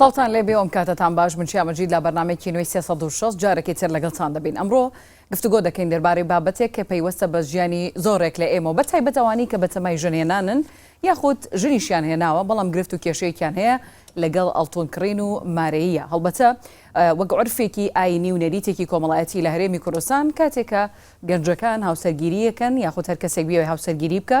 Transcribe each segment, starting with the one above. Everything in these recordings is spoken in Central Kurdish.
سڵاوتان لێ بێ ئۆمکاتەتان باش من چیا مەجید لە بەرنمێکی نوێی 360 جارێکی تر لەگەڵتان دەبین ئەمڕۆ گفتوگۆ دەکەین دەربارەی بابەتێک کە پەیوەستە بە ژیانی زۆرێک لە ئێمە بە تایبەت ئەوانی کە بەتەمای ژنێنانن یاخود ژنیشیان هێناوە بەڵام گرفت و کێشەیەکیان هەیە لەگەڵ ئەڵتون کڕین و مارەیە هەڵبەتە وەک عرفێکی ئاینی و نەریتێکی کۆمەڵایەتی لە هەرێمی کوردستان کاتێکە گەنجەکان هاوسەرگیریەکەن یاخود هەر کەسێک بیاوی هاوسەرگیری بکە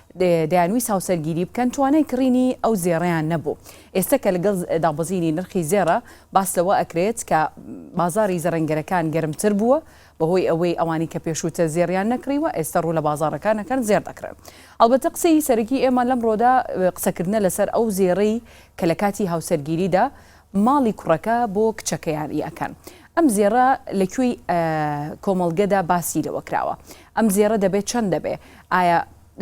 دەیانویست هاوسەرگیری بکەن توانای کڕینی ئەو زێڕەیان نەبوو، ئێستە کە لەگەڵ دابەزینی نرخی زێڕە باس لەوە ئەکرێت کە بازاڕی زەڕەنگەرەکان گەرمتر بووە بەهۆی ئەوەی ئەوانی کە پێشووتر زێڕیان نەکڕیوە ئێستە ڕوو لە بازاڕەکان ئەکەن زێڕ دەکڕن ئەڵبەتە قسەی سەرەکی ئێمە لەمڕۆدا قسەکردنە لەسەر ئەو زێڕەی کە لە کاتی هاوسەرگیریدا ماڵی کوڕەکە بۆ کچەکەیان ی ئەکەن ئەم زێڕە لە کوێی کۆمەڵگەدا باسی لەوە کراوە ئەم زێڕە دەبێت چەند دەبێ ئایا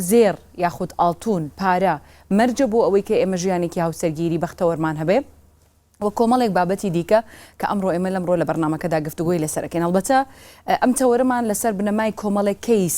زێڕ یاخود ئاڵتون پارە مەرجە بۆ ئەوەی کە ئێمە ژیانێکی هاوسەرگیری بەختەوەرمان هەبێ و کۆمەڵێک بابەتی دیکە کە ئەمڕۆ ئێمە لەمڕۆ لە بەرنمەکەدا گفتوگۆی لەسەرەکەین هەڵبەتە ئەم تەوەرەمان لەسەر بنەمای کۆمەڵێک کەیس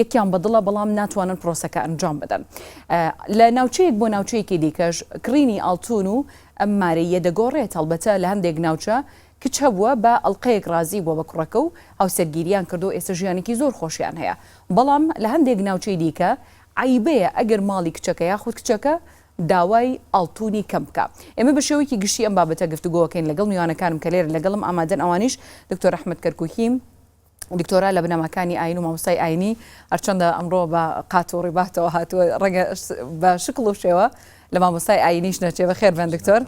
یەکیان بەدڵە بەڵام ناتوانن پرۆسەکە ئەنجام بدەن لە ناوچەیەک بۆ ناوچەیەکی دیکەش کڕینی ئاڵتون و ئەم مارەییە دەگۆڕێت هەڵبەتە لە هەندێک ناوچە کچ هەبووە بە ئەڵقەیەک ڕازی بووە بە کوڕەکە و هاوسەرگیریان کردو ئێستا ژیانێکی زۆر خۆشیان هەیە بەڵام لە هەندێک ناوچەی دیکە عەیبەیە ئەگەر ماڵی کچەکە یاخود کچەکە داوای ئاڵتونی کەم بکا ئێمە بە شێوەیەکی گشتی ئەم بابەتە گفتوگۆکەین لەگەڵ میوانەکانم کە لێرە لەگەڵم ئامادەن ئەوانیش دکتۆر ئەحمەد کەرکوکی دکتۆرا لە بنەماکانی ئاین و مامۆستای ئاینی، هەرچەندە ئەمڕۆ بە قات و ڕیباتەوە هاتووە، ڕەنگە بە شکڵ و شێوە لە مامۆستای ئاینیش نەچێ، بەخێر بێن دکتۆر.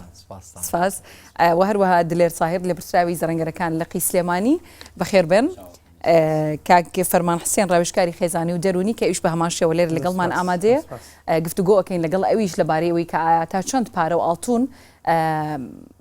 سپاس. و هەروەها دلێر تاهیر، لێپرسراوی زەرەنگەرەکان لقی سلێمانی، بەخێر بێن. کاک فەرمان حسێن، ڕاوێژکاری خێزانی و دەروونی، کە ئەویش بە هەمان شێوە لێرە لەگەڵمان ئامادەیە، گفتوگۆ ئەکەین لەگەڵ ئەویش لەبارەی ئەوەی کە ئایا تا چەند پارە و ئاڵتوون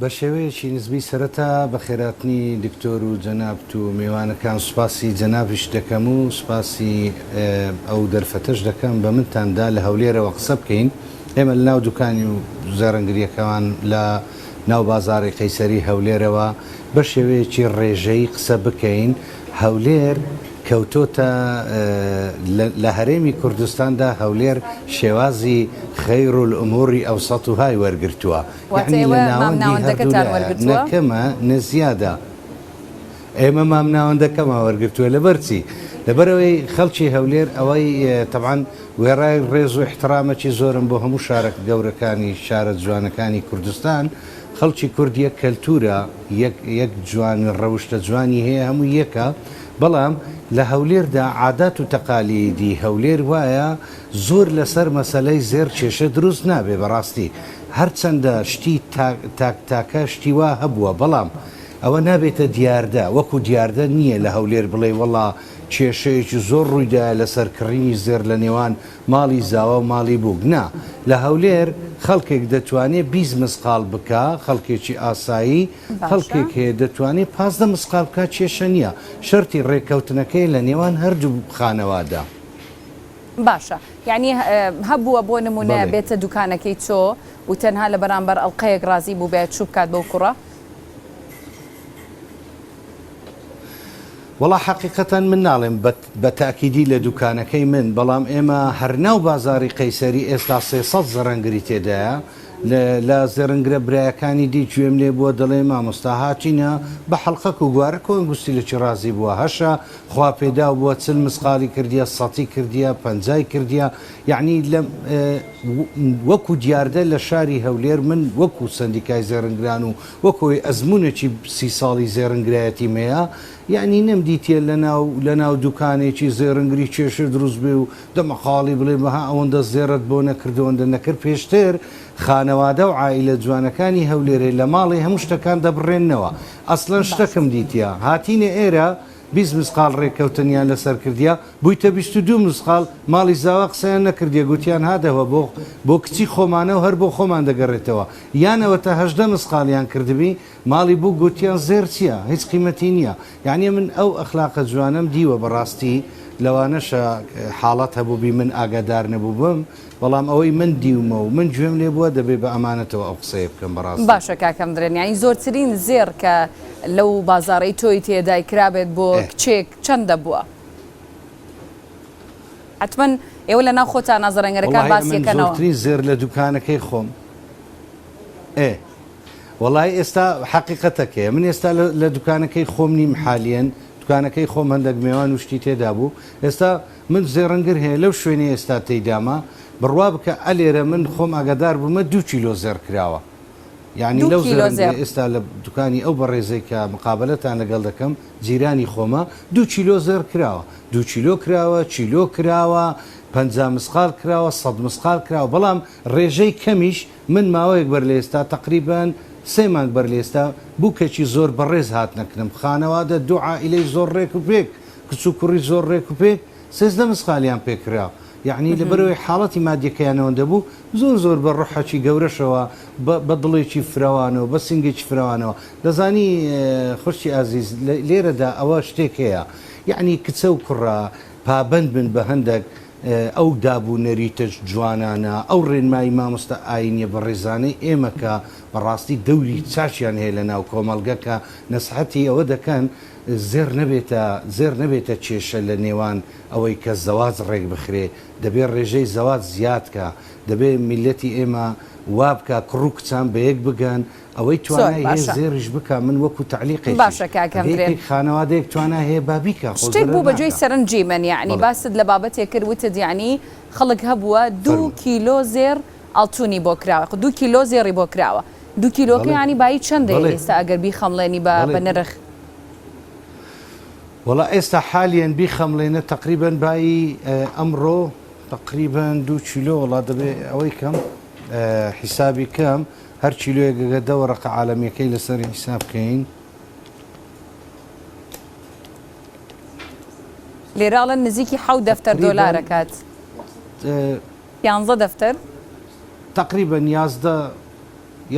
بە شێوەیەکی نسبی سەرەتا بە خێراتنی دکتۆر و جەنابت و مێوانەکان سوپاسی جەنابیشت دەکەم و سوپاسی ئەو دەرفەتەش دەکەم بە منتان دا لە هەولێرەوە قسە بکەین ئێمە لە ناو دوکانی و زەرەنگریەکەمان لە ناو بازاڕی قەیسەری هەولێرەوە بە شێوەیەکی ڕێژەیی قسە بکەین هەولێر کەوتۆتە لە هەرێمی کوردستاندا هەولێر شێوازی خیر الامور اوسطهاای وەرگرتووە یەعنی لە ناوەندی هەردوولا نە کەمە نە زیادە ئێمە مامناوەندەکەمان وەرگرتووە لەبەر چی لەبەرەوەی خەڵکی هەولێر ئەوەی تەبعەن وێڕای ڕێز و احترامەکی زۆرم بۆ هەموو شارە گەورەکانی شارە جوانەکانی کوردستان خەڵکی کورد یەک کەلتورە یەک یەک جوان ڕەوشتە جوانی هەیە هەموو یەکە بەڵام لە هەولێردا عادات و تەقالیدی هەولێر وایە زۆر لەسەر مەسەلەی زێڕ کێشە دروست نابێ بەڕاستی هەرچەندە شتی تاک تاک تاکە شتی وا هەبووە بەڵام ئەوە نابێتە دیاردە وەکو دیاردە نییە لە هەولێر بڵێی وەڵا کێشەیەکی زۆر ڕوویدایە لەسەر کڕینی زێڕ لە نێوان ماڵی زاواو ماڵی بووک نا لە هەولێر خەڵکێک دەتوانێ بیست مسقاڵ بکا خەڵکێکی ئاسایی باشە. خەڵکێک هەیە دەتوانێ پازدە مسقال بکا کێشە نیە شەرتی ڕێکەوتنەکەیە لە نێوان هەردوو خانەوادا. باشە یانی هەبووە بۆ نمونە بەڵێ. بێتە دوکانەکەی تۆ و تەنها لە بەرامبەر ئەڵقەیەک ڕازی بووبێت چوو بکات بەو کوڕە؟ وەڵا حەقیقەتەن من ناڵێم بە بە تاکیدی لە دوکانەکەی من، بەڵام ئێمە هەر ناو بازاڕی قەیسەری ئێستا سێ سەد زرنگری تێدایە، لە زرنگرە برایەکانی دی گوێم لێ بووە دەڵێ مامۆستا هاتینە بە حەڵقەک و گوارەک و ئەنگوستی لە چیڕازی بووە هەشە خوا پێداو بووە چل مسقاڵی کردیە سەتی کردیە پەنجای کردیە یەعنی لەم وەکو دیاردە لە شاری هەولێر من وەکو سەندیکای زرنگران و وەکۆی ئەزمونێکی سی ساڵی زرنگرایەتیم هەیە یەعنی نەمدیتیە لەناو لەناو دوکانێکی زێڕنگری کێشە دروست بێ و دەمەقاڵی بڵێ بەها ئەوەندە زێڕت بۆ نەکرد ئەوەندە نەکرد پێشتر خانەوادە و عائیلە جوانەکانی هەولێرێ لە ماڵێ هەموو شتەکان دەبڕێننەوە ئەسڵەن شتەکم دیتیە هاتینە ئێرە بیست مسقاڵ ڕێککەوتنیان لەسەر کردیە بوویتە بیست و دوو مسقاڵ ماڵی زاوا قسەیان نەکردیە گوتیان هادەوە بۆ بۆ کچی خۆمانە و هەر بۆ خۆمان دەگەڕێتەوە یان ئەوەتا هەژدە مسقاڵیان کردبی ماڵی بووک گوتیان زێڕ چیە هیچ قیمەتی نیە یانی من ئەو ئەخلاقە جوانەم دیوە بەڕاستی لەوانەشە حاڵەت هەبووبی من ئاگادار نەبووبم بەڵام ئەوەی من دیومە و من گوێم لێ بووە دەبێ بە ئەمانەتەوە ئەو قسەیە بکەم بەڕاستی. باشە کاکەم درێن یانی زۆرترین زێڕ کە لەو بازاڕەی تۆی تێدای کرابێت بۆ ئێ. کچێک چەندە بووە؟ حەتمەن ئێوە لە ناو خۆتانا زەڕەنگەرەکان وەڵاهی باسی ئەمن ئەکەنەوە. زۆرترین زێڕ لە دوکانەکەی خۆم ئێ. وەڵای ئێستا حەقیقەتەکەیە من ئێستا لە دوکانەکەی خۆم نیم حالیەن دوکانەکەی خۆم هەندەک مێوان و شتی تێدا بوو ئێستا من زێڕنگر هەیە لەو شوێنی ئێستا تێدامە بڕوا بکە ئەلێرە من خۆم ئاگادار بوومە دوو کیلۆ زێڕ کراوە یعنی لەو زێڕنگە ئێستا لە دوکانی ئەو بەڕێزەی کە مقابلتان لەگەڵ دەکەم جیرانی خۆمە دوو کیلۆ زێڕ کراوە دوو کیلۆ کراوە چیلۆ کراوە پ مسقال کراوە سە مسقال کراوە بەڵام ڕێژەی کەمیش من ماوەیەک بەر لەئێستا تەقریبەن سێ مانگ بەر لەئێستا بوکێکی زۆر بەڕێز هاتنە کنم خانەوادە دوو عائیلەی زۆر ڕێک و پێک کچ و کوڕی زۆر ڕێک و پێک سێزدە مسخالیان پێ کرا یەعنی لەبەرئەوەی حاڵەتی مادیەکەیان ئەوەندە بوو زۆر زۆر بە ڕۆحەکی گەورەشەوە بە بە دڵێکی فرەوانەوە بە سینگێکی فرەوانەوە دەزانی خوشکی ئازیز لێرەدا ئەوە شتێک هەیە یەعنی کچە و کوڕە پابەند بن بە هەندەک ئەو داب و نەریتە جوانانە، ئەو ڕێنمایی مامۆستا ئاینیە بەڕێزانەی ئێمە کە بەڕاستی دەوری چاکیان هەیە لە ناو کۆمەڵگە کە نەسحەتی ئەوە دەکەن زێڕ نەبێتە زێڕ نەبێتە کێشە لە نێوان ئەوەی کە زەواج ڕێک بخرێ دەبێ ڕێژەی زەواج زیاد کا دەبێ میلەتی ئێمە وابکا کوڕ و کچان بە یەک بگەن ئەوەی توانای هەیە زێڕیش بکا من وەکو تەعلیقێکی باشە کاک هەمبرێن ئەگەر هیچ خانەوادەیەک توانای هەیە با بیکا خۆ زەرەر ناکا شتێک بوو بە جێی سەرنجی من یەعنی باست لە بابەتێک کرد وتت یەعنی خەڵک هەبووە دوو کیلۆ زێڕ ئاڵتوونی بۆ کراوە خۆ دوو کیلۆ زێڕی بۆ کراوە دوو کیلۆکە یەعنی بایی چەندە ئێستا ئەگەر بیخەمڵێنی بە بە نرخ؟ وەڵا ئێستا حالیەن بیخەمڵێنە تەقریبەن بایی ئەمڕۆ تەقریبەن دوو کیلۆ وەڵا دەبێ ئەوەی کەم حیسابی کەم هەر کیلۆیەک ئەگەر دە وەرەقە عالەمیەکەی لەسەر حیساب کەین. لێرە ئەڵێن نزیکی حەوت دەفتەر دۆلار ئەکات. تەقریبەن. یانزە دەفتەر. تەقریبەن یازدە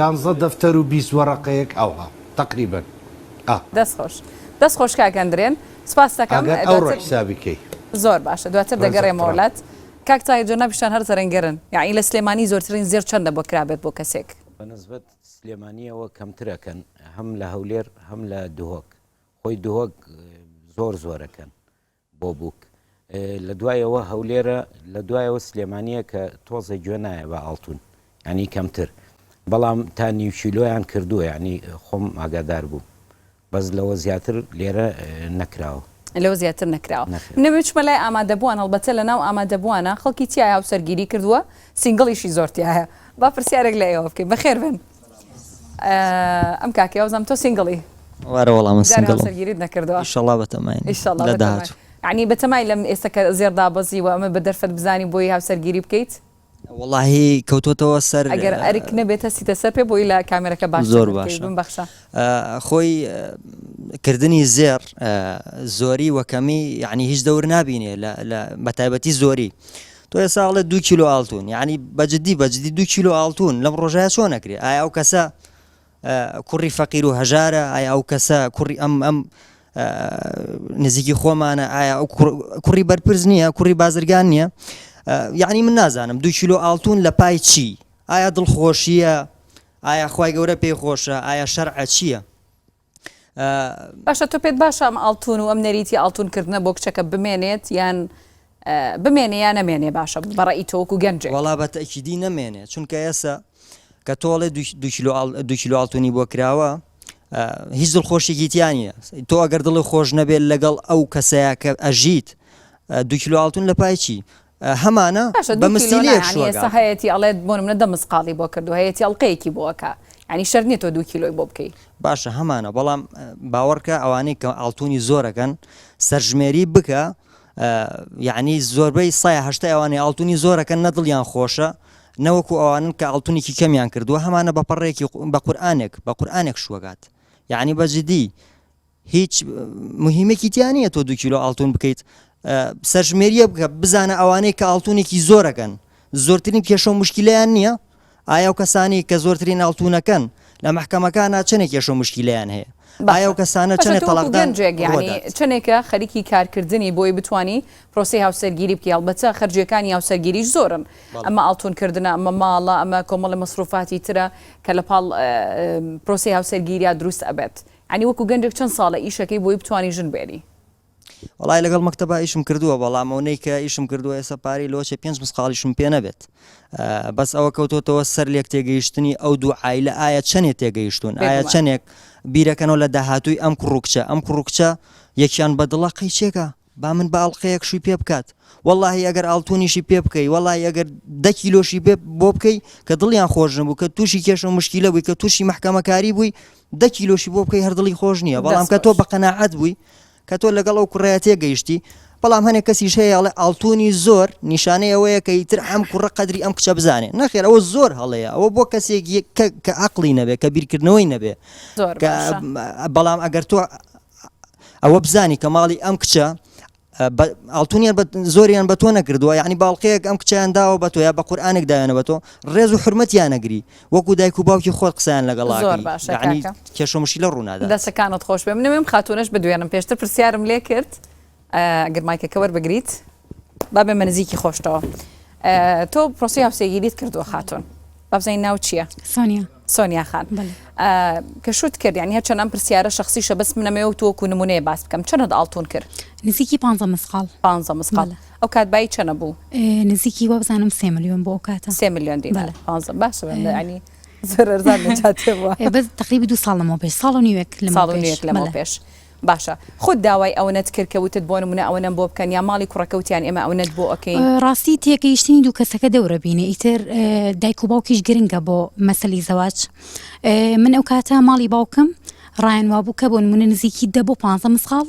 یانزە دەفتەر و بیست وەرەقەیەک ئەوها تەقریبەن ئا. دەست خۆش دەست خۆش کاک ئەندرێن سوپاستەکەم. ئەگەر ئەوڕۆ حیسابی کەی. زۆر باشە دواتر دەگەرێمەوە لات. کاک تاهیر جەنابیشتان هەر زەرەنگەرن یەعنی لە سلێمانی زۆرترین زێڕ چەندە بۆ کرا بێت بۆ کەسێک؟ بە نسبەت سلێمانیەوە کەمتر ئەکەن هەم لە هەولێر هەم لە دهۆک خۆی دهۆک زۆر زۆر ئەکەن بۆ بووک لە دوایەوە هەولێرە لە دوایەوە سلێمانیە کە تۆزە گوێ نایە بە ئاڵتون ینی کەمتر بەڵام تا نیوچیلۆیان کردووە ینی خۆم ئاگادار بووم بەس لەوە زیاتر لێرە نەکراوە. لەوە زیاتر نەکراوە. من ئەمێ چومە لای ئامادەبوان هەڵبەتە لە ناو ئامادەبوانە خەڵکی تیایە هاوسەرگیری کردوە سینگڵیشی زۆر تیایە با پرسیارێک لە ئێوە بکەین بەخێر بێن ئەم کاکەیە وازام تۆ سینگڵی؟ وارە وەڵا من سینگڵم. جارێ هاوسەرگیریت نەکردوە؟ ئیشەڵا بەتەماین ئیشەڵا لە بەتەمای داهاتوو. یەعنی بەتەمای لەم ئێستا کە زێڕ دابەزیوە ئەمە بە دەرفەت بزانی بۆی هاوسەرگیری بکەیت؟ وەڵاهی کەوتۆتەوە سەر. ئەگەر ئەرک نەبێت هەستیتە سەر پێ بۆی لە کامێرەکە باش چەک بکەی بمبەخشە. خۆی کردنی زێڕ زۆری وە کەمی یعنی هیچ دەور نابینێ بە تایبەتی زۆری تۆ ئێستا ئەڵێ دو کیلۆ ئاڵتون یعنی بەجددی بەجددی دو کیلۆ ئاڵتون لەم ڕۆژایە چۆن نەکرێ ئایا ئەو کەسە کوڕی فەقیر و هەژارە ئایا ئەو کەسە کوڕی ئەم ئەم نزیکی خۆمانە ئایا ئەو کوڕی بەرپرس نییە کوڕی بازرگان نییە یعنی من نازانم دو کیلو ئاڵتون لە پای چی ئایا دڵخۆشیە ئایا خی گەورە پێی خۆشە ئایا شەرعە چییە؟ باشە تۆ پێت باشە ئەم ئاڵتون و ئەم نەریتی ئاڵتونکردنە بۆ کچەکە بمێنێت یان بمێنێ یا نەمێنێ باشە بە ڕەئی تۆ وەکو گەنجێک؟ وەڵا بە تەئکیدی نەمێنێ چونکە ئێسە کە تۆ ئەڵێ دوو کیلۆ دوو کیلۆ ئاڵتونی بۆ کراوە هیچ دڵخۆشێکی تیا نیە تۆ ئەگەر دڵی خۆش نەبێت لەگەڵ ئەو کەسەیە کە ئەژیت دوو کیلۆ ئاڵتون لە پای چی هەمانە باشە دو کیلۆ بەمسیلی نایانی شوەگا ئێستا هەیەتی ئەڵێت بۆ نمونە دە مسقاڵی بۆ کردووە هەیەتی ئەڵقەیەکی بۆ ئەکا یانی شەرت نیە تۆ دوو کیلۆی بۆ بکەی باشە هەمانە بەڵام باوەڕکە ئەوانەی کە ئاڵتونی زۆرەکەن سەرژمێری بکە ئە یەعنی زۆربەی سەیا هەشتای ئەوانەی ئاڵتونی زۆر ئەکەن نە دڵیان خۆشە نە وەکو ئەوانن کە ئاڵتونیکی کەمیان کردوە هەمانە بە پەڕەیەکی بە قورئانێک بە قورئانێک شوەگات یەعنی بە جدی هیچ مهمەکی تیا نیە تۆ دو کیلۆ ئاڵتون بکەیت ئە سەرژمێریە بکە بزانە ئەوانەی کە ئاڵتونێکی زۆر ئەکەن زۆرترین کێشەو موشکیلیان نیە ئایا ئەو کەسانەی کە زۆرترین ئاڵتونەکەن لە مەحکەمەکانا چەنێک کێشە و مشکیلەیان هەیە؟ ئایا ئەو کەسانە چەنێ تەڵاقدان ڕوەدات؟ چەنێکە خەریکی کارکردنی بۆی بتوانی پرۆسەی هاوسەرگیری بکەی هەڵبەتە خەرجیەکانی هاوسەرگیریش زۆرن ئەمە ئاڵتون کردنە ئەمە ماڵە ئەمە کۆمەڵی مەسروفاتی ترە کە لە پاڵ پرۆسەی هاوسەرگیریا دروست ئەبێت عنی وەکو گەنجێک چەند ساڵە ئیشەکەی بۆی بتوانی ژن بێنی؟ وەڵای لەگەڵ مەکتەبا ئیشم کردووە بەڵام ئەو نەی کە ئیشم کردووە ئێستا پارەی لۆچە پێنج مسقاڵیشم پێ نەبێت بەس ئەوە کەوتۆتەوە سەر لێک تێگەیشتنی ئەو دوو ئایلە ئایا چەندێ تێگەیشتون ئایا چەندێک بیرەکەنەوە لە داهاتووی ئەم کوڕکچە ئەم کوڕکچە یەکیان بەدڵە قەیچێکە با من بە ئەڵلقەیەک شووی پێ بکات واللهی ئەگەر ئاڵتونیشی پێ بکەی وڵی ئەگەر دەکی لۆشی بۆ بکەی کە دڵیان خۆش نبوو کە تووشی کێشە و مشکیلە بووی کە تووشی محکەمەکاری بووی دە کیلۆشی بۆ بکەی هەر دڵی خۆش نییە بەڵام کە تۆ بە قەناعەت بووی کە تۆ لەگەڵ ئەو کوڕەیە تێگەیشتی بەڵام هەنێک کەسیش هەیە ئەڵێ ئاڵتونی زۆر نیشانەی ئەوەیە کە ئیتر ئەم کوڕە قەدری ئەم کچە بزانێ نەخێر ئەوە زۆر هەڵەیە ئەوە بۆ کەسێک یەک کە- کە عەقڵی نەبێ کە بیرکردنەوەی نەبێ زۆر کە باشە. بەڵام ئەگەر تۆ ئەوە بزانی کە ماڵی ئەم کچە بە ئاڵتونیان بە زۆریان بە تۆ نەکردووە یعنی باڵقەیەک ئەم کچیان داوە بە تۆ یا بە قورآانێک داوێنە بە تۆ ڕێز و حرمەتیان نەگری وەکو دایک و باوکی خۆت قسەیان لەگەڵ کێشەمشی لە ڕوونادا دەسەکانت خۆش بێ منێم خاتونەش بدوێنم پێشتر پرسیارم لێ کرد گرمایکەکە وەربگریت بابێ منزیکی خۆشتەوە تۆ پرۆسی هاوسێگیریت کردووە خاتون بابزین ناو چییە؟ سۆنیا سۆنیا خان کە شوت کرد یان هەرچەند ئەم پرسیارە شخصیشە بەس منەمەوە تۆ کو نمونەیە باس بکەم چەند ئاڵتون کرد نزیکی پ مسقال پ مسقال ئەو کات بای چەنە بوو نزیکی وابزانم سێ ملیۆن بۆ ئەو کاتە سێ ملیۆن دی باش ینی بەس تقریبی دو ساڵەوە پێش ساڵ و نیوێک لە ساڵ و نیوێک لەمە پێش باشە خۆت داوای ئەونەت کرد کە وتت بۆ نمونە ئەونەم بۆ بکەن یان ماڵی کوڕەکە وتیان ئێمە ئەونەت بۆ ئەکەین. ڕاستی تێگەیشتنی دوو کەسەکە دەورە بینە ئیتر دایک و باوکیش گرنگە بۆ مەسەلی زەواج من ئەو کاتە ماڵی باوکم ڕایان وابوو کە بۆ نمونە نزیکی دە بۆ پانزە مسخاڵ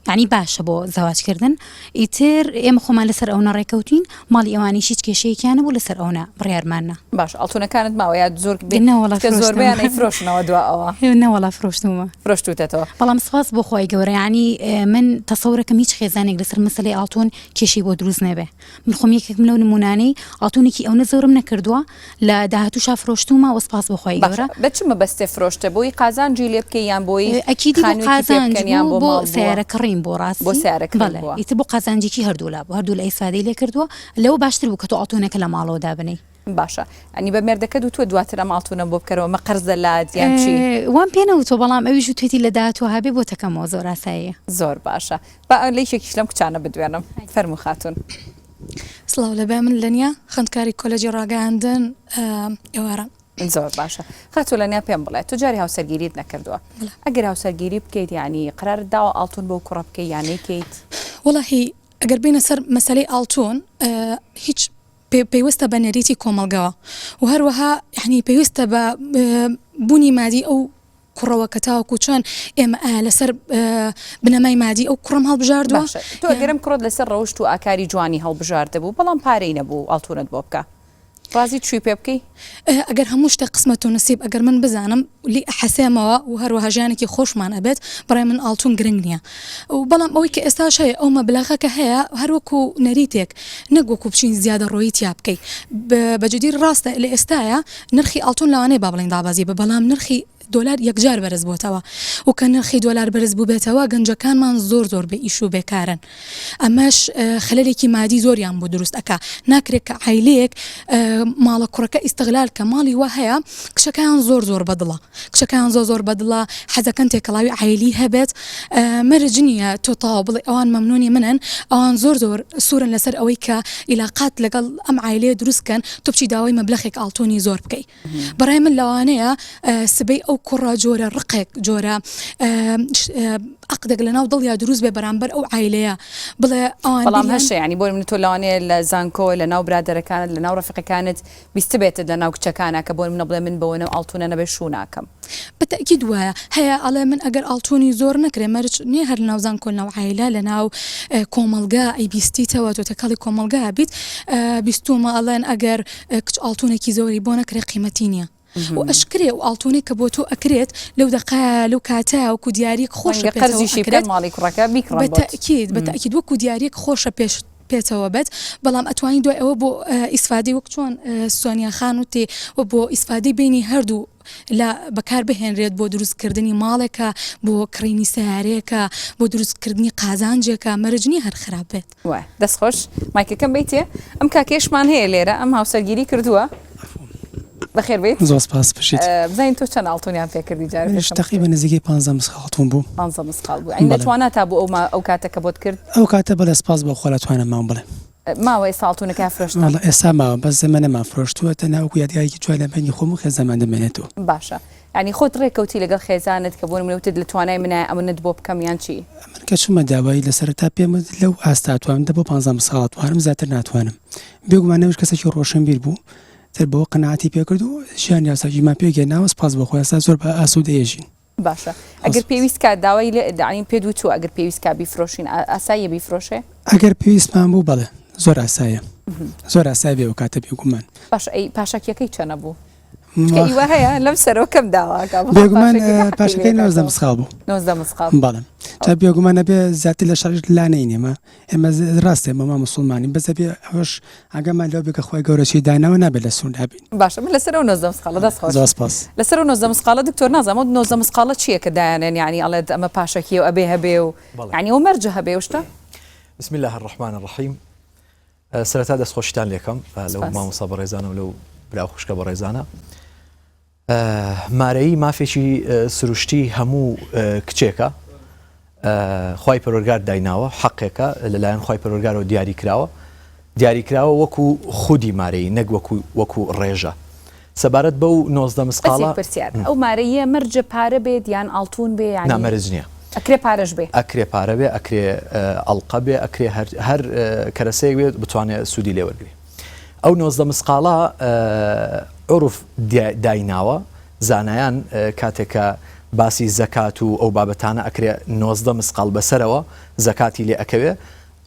یعنی باشە بۆ زەواج کردن ئیتر ئێمە خۆمان لەسەر ئەونە ڕێکەوتین، ماڵی ئەوانیش هیچ کێشەیەکیان نەبوو، لەسەر ئەونە بڕیارمان نا. باشە ئەڵتونەکانت ماوە یا زۆر بێ؟ نەوەڵا فرۆشتمەوە. چونکە زۆربەیان ئەیفرۆشنەوە دوا ئەوە. نەوەڵا فرۆشتمەوە. فرۆشتوتەتەوە. بەڵام سوپاس بۆ خوای گەورە یانی من تەسەورەکەم هیچ خێزانێک لەسەر مەسەلەی ئاڵتون کێشەی بۆ دروست نەبێ. من خۆم یەکێکم لەو نمونانەی ئاڵتونێکی ئەونە زۆرم نەکردوە، لە داهاتوشا فرۆشتومە وە سپاس بۆ خوای گەورە. باشە بە چ مەبەستێ فرۆشتە بۆی قازانجی لێ بکەی یان بۆی ئەکیدی بۆ خانوێکی پێ قازانج بکەن یان بوو بۆ ماڵ بۆ بووە سەیارە کڕیم بۆ بۆ ڕاستی سارە کڕین بەڵێ بووە. ئیتر بۆ قازانجێکی هەردوولا بوو هەردوولا ئیسفادەی لێ کردووە لەوە باشتر بوو کە تۆ ئاڵتونەکە لە ماڵەوە دابنێی. باشە ئەنی بە مێردەکەت وتووە دواتر ئەم ئاڵتونەم بۆ بکەرەوە مە قەرزە لات یان چی؟ وام پێ نەوتووە بەڵام ئەویش وتوێتی لە داهاتوو هەبێ بۆت ئەکەمەوە زۆر ئاساییە. زۆر باشە با لە یەکێکیش لەم کچانە بدوێنم. فەرموو خاتوون. سڵاو لە بە من لەنیا خوندکاری کۆلەجی ڕاگەیاندن ئێوارە. زۆر باشە خاتو لەنیا پێم بڵێ تو جاری هاوسەرگیریت نەکردووە ئەگەر هاوسەرگیری بکەیت ینی قرار داوە ئاڵتون بۆ کوڕە بکەی یانەیکەیت وڵی ئەگەر بینە سەر مەسلەی ئاڵتون هیچ پێویستە بە نەریتی کۆمەلگەوە و هەروەها یعنی پێویستە بە بوونی مادی ئەو کوڕەوە کە تاوەکو چۆن ئێمە ئایا لەسەر بنەمای مادی ئەو کوڕم هەڵبژاردووە باشە تۆ یان گەرم کوڕت لەسەر ڕەوشت و ئاکاری جوانی هەڵبژاردبوو بەڵام پارەی نەبوو ئاڵتوونت بۆ بکا ڕازی چووی پێ بکەی؟ ئه ئەگەر هەموو شتێک قسمەت و نسیب ئەگەر من بزانم و لێی ئەحەسێمەوە و هەروەها ژیانێکی خۆشمان ئەبێت بەڕای من ئاڵتوون گرنگ نییە و بەڵام ئەوەی کە ئێستاش هەیە ئەو مەبلەغە کە هەیە هەر وەکو نەریتێک نەک وەکو بچین زیادەڕۆیی تیا بکەی ب بە جدی ڕاستە لە ئێستایە نرخی ئاڵتون لەوانەیە با بڵێین دابەزی بە بەڵام نرخی دۆلار یەکجار بەرز بۆتەوە و کە نرخی دۆلار بەرز بووبێتەوە گەنجەکانمان زۆر زۆر بە ئیش و بێکارن ئەمەش خەلەرێکی مادی زۆریان بۆ دروست ئەک ناکرێت کە عیلەیەک ماڵە کوڕەکە ئیستغلال کە ماڵی وە هەیە کچەکان زۆر زۆر بەدڵە کچەکەیان زۆر زۆر بەدڵە حەزەکەن تێکەڵاوی عایلی هەبێت مەرج نییە تۆ تەواو بڵێ ئەوان مەمنونی منن ئەوان زۆر زۆر سورن لەسەر ئەوەی کە ئیلاقات لەگەڵ ئەم عایلەیە دروست کەن تۆ بچی داوای مەبلەخێک ئاڵتونی زۆر بکەی بەڕای من لەوانەیە سبەی ئەو کوڕە جۆرە ڕقێک جۆرە عقدێک لەناو دڵیا دروست بێ بەرامبەر ئەو عایلەیە بڵێ ئەوان بەڵام هەشە ینی بۆ من تۆ لەوانەیە لە زانکۆ لە ناو برادەرەکانت لە ناو ڕفقەکانت بیستبێتت لە ناو کچەکانا کە بۆ منە بڵێ من بەوەنە و ئاڵتونە نەبێ شوو ناکەم. بە تەئکید وایە هەیە ئەڵێ من ئەگەر ئاڵتونی زۆر نەکرێ مەرج نیە هەر لەناو زانکۆ لەناو عایلە لەناو کۆمەڵگا ئەی بیستیتەوە تۆ تێکەڵی کۆمەڵگا ئەبیت بیستومە ئەڵێن ئەگەر کچ ئاڵتونێکی زۆری بۆ نەکرێ قیمەتی نیە و ئەشکرێ ئەو ئاڵتونەی کە بۆ تۆ ئەکرێت لەو دەقەیە لەو کاتەیە وەکو دیاریەک خۆشە ڕەنگە قەرزیشی بکەن ماڵی کوڕەکە بیکڕن بۆت. بە تەئکید بە تەئکید وەکو دیاریەک خۆشە پێشت پێتەوە بەت بەڵام ئەتوانی دوای ئەوە بۆ ئیسفادەی وەک چۆن سۆنیا خان وتی و بۆ ئیسفادەی بینی هەردوو لە بەکار بهێنرێت بۆ دروستکردنی ماڵێکە بۆ کڕینی سیارەیەکە بۆ دروستکردنی قازانجێکە مەرجنی هەر خراپ بێت وە دەستخۆش مایکەکەم بیتێ ئەم کاکێشمان هەیە لێرە ئەم هاوسەرگیری کردووە بەخێر بیت زۆر سپاس بژیت اه، بزانین تۆ چەند ئاڵتونیان پێ کردی جار منیش تقریبا نزیکەی 15 مسخ هەڵتون بوو 15 مسقال بوو عین توانە تا بوو ئەو ما ئەو کاتە کە بۆت کرد ئەو کاتە بەلێ سپاس بۆ خوا لە توانم مام بڵێ اه، ماوە ئێستا ئاڵتونەکە فرۆشتن والله ئێستا ماوە بەس زەمە نەمان فرۆشتووە تەنها وەکو یادگارێکی جوان لە بەینی خۆم و خێزانمان دەمێنێتەوە باشە یعنی خۆت ڕێکەوتی لەگەڵ خێزانت کە بۆ نمونە وتت لە توانای منایە ئەمنت بۆ بکەم یان چی من کە چوومە داوای لە سەرەتا پێم وت لەو ئاستا توانم دە بۆ 15 ساڵ توانم زیاتر ناتوانم بێگومان نەوش کەسێکی ڕۆشنبیر بوو تر بەوە قەناعەتی پێکرد و ژیانی یاساکیمان پێک هێناوە سپاس بۆ خوا ئێستا زۆر بە ئاسوودە ئێژین. باشە ئەگەر پێویست کا داوای لێ دەعین پێت وتووە ئەگەر پێویست کا بیفرۆشین ئا ئاساییە بیفرۆشێ؟ ئەگەر پێویستمان بوو بەڵێ زۆر ئاساییە زۆر ئاسایە بێ ئەوکاتە بێگوومان. باشە ئەی پاشەکیەکەی چەنە بوو؟ چونکە وا ئیوە هەیە لەم سەرەوە کەم داواکا بەخوا بێگوومان پاشەکیەکە ئە، حەقی پاشەکەی لێ نۆزدە دەکاتەوە مسخاڵ بوو نۆزدە مسقاڵ بەڵێ جا بێگوومان ئەبێ زیاتر لە شەش لا نەینێ مە ئێمە ڕاستێ مەما مسلمانین بەس دەبێ ئەوش ئەگەمان لەو بێ کە خۆی گەورە چی داناوە نابێت لە سوون هەبین باشە من لەسەر و نۆزدە مسقاڵە دەست خۆش زۆر سپاس لەسەر و نۆزدە مسقاڵە دکتۆر نازم و نۆزدە مسقاڵە چییە کە دایانێن یعنی ئەڵێت ئەمە پاشەکی و ئەبێ هەبێ و بەڵێ. یعنی و مەرجە هەبێ و شتە بسم الله الرحمن الرحیم ئە، سەرەتا دەست خۆشتان لێکەم ئە، لەو سپاس. مامۆستا بەڕێزانە و لەو برا و خوشکە بەڕێزانە مارەیی مافێکی سروشتی هەموو کچێکە خوای پەروەرگار دایناوە حەقێکە لەلایەن خی پەرۆرگارەوە دیاری کراوە دیاری کراوە وەکو خودی مارەی نەک وەکو وەکو ڕێژە سەبارەت بەو نۆزدە مسقاڵە پرسیار ئەو مارەیە مەرجە پارە بێت یان ئاڵتون بێ یان نامەرج نییە ئەکرێ پارەش بێ ئەکرێ پارە بێ ئەکرێ ئەڵلقە بێ ئەکرێ هەر کەرەسەیەک بێت بتوانێت سوودی لێوەرگێ ئەو نۆزدە مسقاڵە عورف دایناوە زانایان کاتێک کە باسی زەکات و ئەو بابەتانە ئەکرێ نۆزدە مسقال بەسەرەوە زەکاتی لێ ئەکەوێ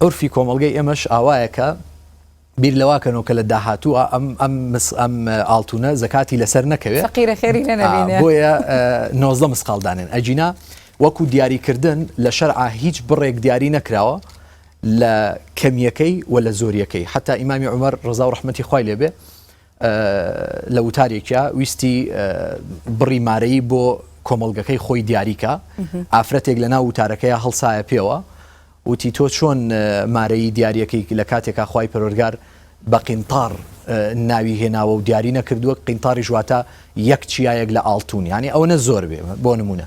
عورفی کۆمەلگەی ئێمەش ئاوایەکە بیر لەواکەنەوە کە لە داهاتوو ئەم ئەم ئەم ئاڵتونە زەکاتی لەسەر نەکەوێت قیرە خێری بۆیە نۆزدە مسقالدانێن ئەجینا وەکو دیاریکردن لە شەرعا هیچ بڕێک دیاری نەکراوە لە کەمیەکەی وە لە زۆریەکەی حەتا ئیمامی عومەر ڕەزاو ڕەحمەتی خوای لێ بێ لە وتارێکیا ویستی بڕی مارەی بۆ کۆمەڵگەکەی خۆی دیاریکە ئافرەتێک لە ناو وتارەکەی هەڵسایە پێوە وتی تۆ چۆن مارەی دیارەکەی لە کاتێکا خی پەرۆرگار بە قینتار ناوی هێناوە و دیاری نەکردووە قینتاری ژواتە یەک چیایەک لە ئاڵتون ینی ئەوە نە زۆر بێ بۆ نمونە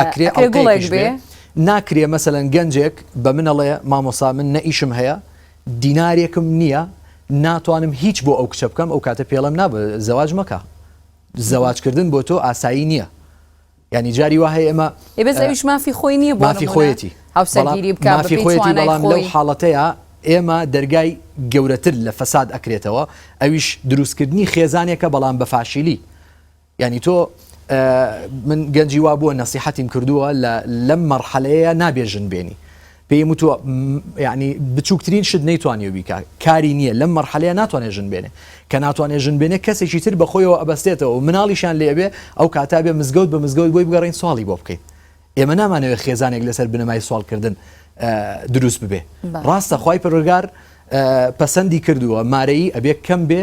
ئەکرێ ئەکرێ گوڵێک ئەڵقەیەکیش بێ بێ. ناکرێ مەسەلەن گەنجێک بە منەڵێ مامۆسا من نە ئیشم هەیە دینارێکم نییە ناتوانم هیچ بۆ ئەو کچە بکەم ئەو کاتە پێڵێم نا بە زەواج مەکە زەواج کردن بۆ تۆ ئاسایی نییە یانی جاری وا هەیە ئێمە ئێ بەس ئەویش مافی خۆی نییە بۆ مافی نموونە خۆیەتی هاوسەرگیری بکا مافی بەپێی خۆیەتی توانای بەڵام لەو خۆی حاڵەتەیە ئێمە دەرگای گەورەتر لە فەساد ئەکرێتەوە ئەویش دروستکردنی خێزانێکە بەڵام بە فاشیلی یانی تۆ من گەنجی وا بووە نەسیحەتیم کردووە لە لەم مەرحەلەیە نابێ ژن بێنی پێم وتووە یعنی بچووکترین شت نەیتوانانی و بیکە کاری نییە لەم مەرحەلەیە ناتوانێت ژن بێنێ کە ناتوانێت ژن بێنێ کەسێکی تر بەخۆیەوە ئەبەستێتەوە و مناڵیشان لێبێ ئەو کاتا بێ مزگەوت بە مزگەوت بۆی بگەڕین سواڵی بۆ بکەین ئێمە نامانەوێت خێزانێک لەسەر بنەمای سوالکردن دروست ببێ ڕاستە خی پرگار پەسەندی کردووە مارەی ئەبێ کەم بێ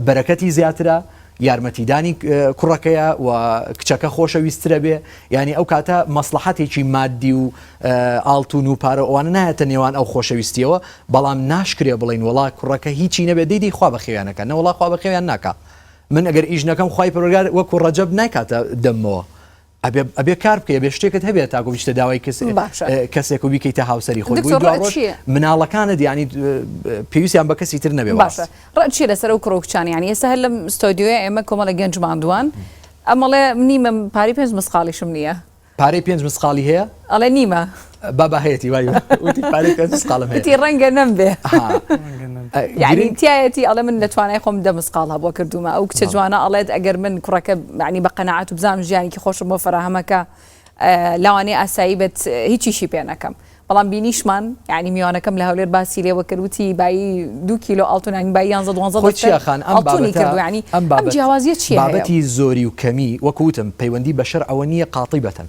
بەرەکەتی زیاترە یارمەتیدانی کوڕەکەیە و کچەکە خۆشە ویسترە بێ ینی ئەو کاتە مەسلحەتێکی مادی و ئاڵتون و پارە ئەوانە نایەتە نێوان ئەو خۆشەویستیەوە بەڵام ناشکرێ بڵین وڵا کوڕەکە هیچی نەبێ دیدی خوا بەخێویانەکە نەوەڵا خوا بەخێویان ناکە من ئەگەر ئیش نەکەم خی پرگار وەکو ڕەجب نایکاتە دەمەوە ئەبێ ئەبێ کار بکەی ئەبێ شتێکت هەبێت تاکو بچتە داوای کەس باشە. اه، کەسێک و بیکەیتە هاوسەری خۆی دکتۆر، بۆی ڕەئت دواڕۆژ چییە؟ مناڵەکانت یانی اه، پێویستیان بە کەسی تر نەبێ باشە وەڕاست ڕەئت چییە لەسەر ئەو کوڕە و کچانە یانی ئێستا هەر لەم ستۆدیۆیە ئێمە کۆمەڵێک گەنج ماندووان ئەمەڵێ نیمە پارەی پێنج مسقاڵیشم نییە پارەی پێنج مسقاڵی هەیە؟ ئەڵێ نیمە. بابا هەیەتی وای وتی پارەی پێنج مسقاڵم هەیە. وتی ڕەنگە نەمبێ ها ڕەنگە نەم ئە، یعنی گرنگ تایەتی ئەڵێ من لە توانای خۆم دە مسقاڵ هەبووە کردوومە ئەو کچە بەڵێ جوانە ئەڵێت ئەگەر من کوڕەکە یعنی بە قەناعەت و بزانم ژیانێکی خۆشم بۆ فەراهەم ئەکا ئە، لەوانەیە ئاسایی بێت هیچیشی پێ نەکەم بەڵام بینیشمان یعنی میوانەکەم لە هەولێر باسی لێوە کرد وتی بایی دوو کیلۆ ئاڵتوون یانی بایی یانزە دوانزە خۆی دەفتەر چیاخان ئەم ئاڵتوونی بابەتە کردووە یانی ئەم ئەم بابەت جیاوازیە چیە هەیە و. بابەتی زۆری و کەمی وەکو وتم پەیوەندی بە شەرعەوە نیە قاطبەتەن.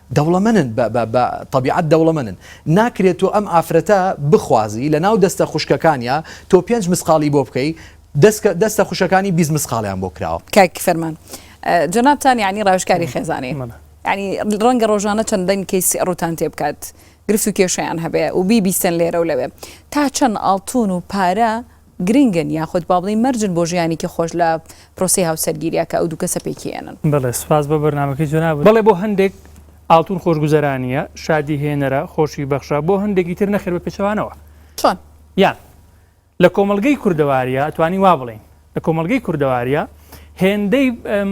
دەوڵەمەنن بە بە بە تەبیعەت دەوڵەمەنن ناکرێ تۆ ئەم ئافرەتە بخوازی لە ناو دەستە خوشکەکانیا تۆ پێنج مسقاڵی بۆ بکەی دەسکە دەستە خوشەکانی بیست مسقاڵیان بۆ کراوە. کاک فەرمان جەنابتان یانی ڕاوێژکاری خێزانی منە. یانی ڕەنگە ڕۆژانە چەندین کەیس ڕووتان تێ بکات گرفت و کێشەیان هەبێ و بیبیستن لێرە و لەوێ تا چەند ئاڵتوون و پارە گرنگن یاخود با بڵێین مەرجن بۆ ژیانێکی خۆش لە پرۆسەی هاوسەرگیرییە کە ئەو دوو کەسە پێکی ئێنن. بەڵێ سوپاس بۆ بەرنامەکەی جەنابت. بەڵێ بۆ هەندێک ئاڵتون خۆشگوزەرانییە، شادی هێنەرە، خۆشی بەخشە، بۆ هەندێکی تر نەخێر بە پێچەوانەوە. چۆن؟ یان، لە کۆمەڵگەی کوردەوارییە ئەتوانین وا بڵێین، لە کۆمەڵگەی کوردەوارییە هێندەی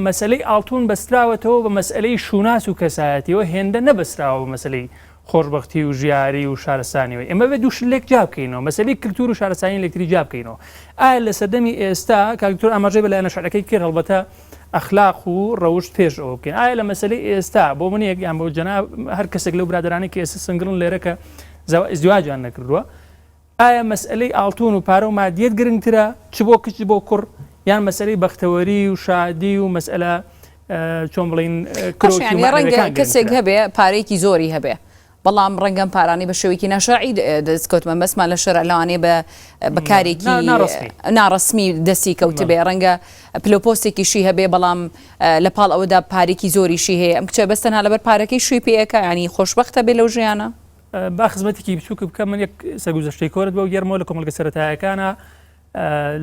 مەسەلەی ئاڵتون بەستراوەتەوە بە مەسەلەی شووناس و کەسایەتییەوە هێندە نەبەستراوە بە مەسەلەی خۆشبەختی و ژیاری و شارستانیەوەی ئێمە بێت دوو شت لێک جیا بکەینەوە مەسەلەی کلتور و شارستانی لەکتری جیا بکەینەوە ئایا لە سەردەمی ئێستا کاک دکتۆر ئاماژەی بە لایەنە شەرعەکەی کرد هەڵبەتە ئەخلاق و ڕەوشت پێش ئەوە بکەین ئایا لە مەسەلەی ئێستا بۆ من یەک یان بۆ جەناب هەر کەسێک لەو برادرانی کە ئێستا سنگڵن لێرە کە زەوا ئیزدواجیان نەکردووە ئایا مەسئەلەی ئاڵتوون و پارە و مادییەت گرنگترە چ بۆ کچ بۆ کوڕ یان مەسئەلەی بەختەوەری و شادی و مەسئەلە چۆن بڵێین کرۆکی و مەعنەویەکان گرنگترە؟ باشە یانی ڕەنگە کەسێک هەبێ پارەیەکی زۆری هەبێ بەڵام ڕەنگە ئەم پارانەی بە شێوەیەکی ناشەرعی دەست کەوتبێ مەبەستمان لە شەرع لەوانەیە بە بە کارێکی ناڕەسمی دەستی کەوتبێ ڕەنگە پلەو پۆستێکیشی هەبێ بەڵام لە پاڵ ئەوەدا پارێکی زۆریشی هەیە ئەم کچە بەس تەنها لەبەر پارەکەی شووی پێ ئەکا یانی خۆشبەختە بێ لەو ژیانە؟ با خزمەتێکی بچووکە بکەم من یەک سەگوزەشتەی کۆرت بۆ گەرمەوە لە کۆمەلگە سەتایەکانە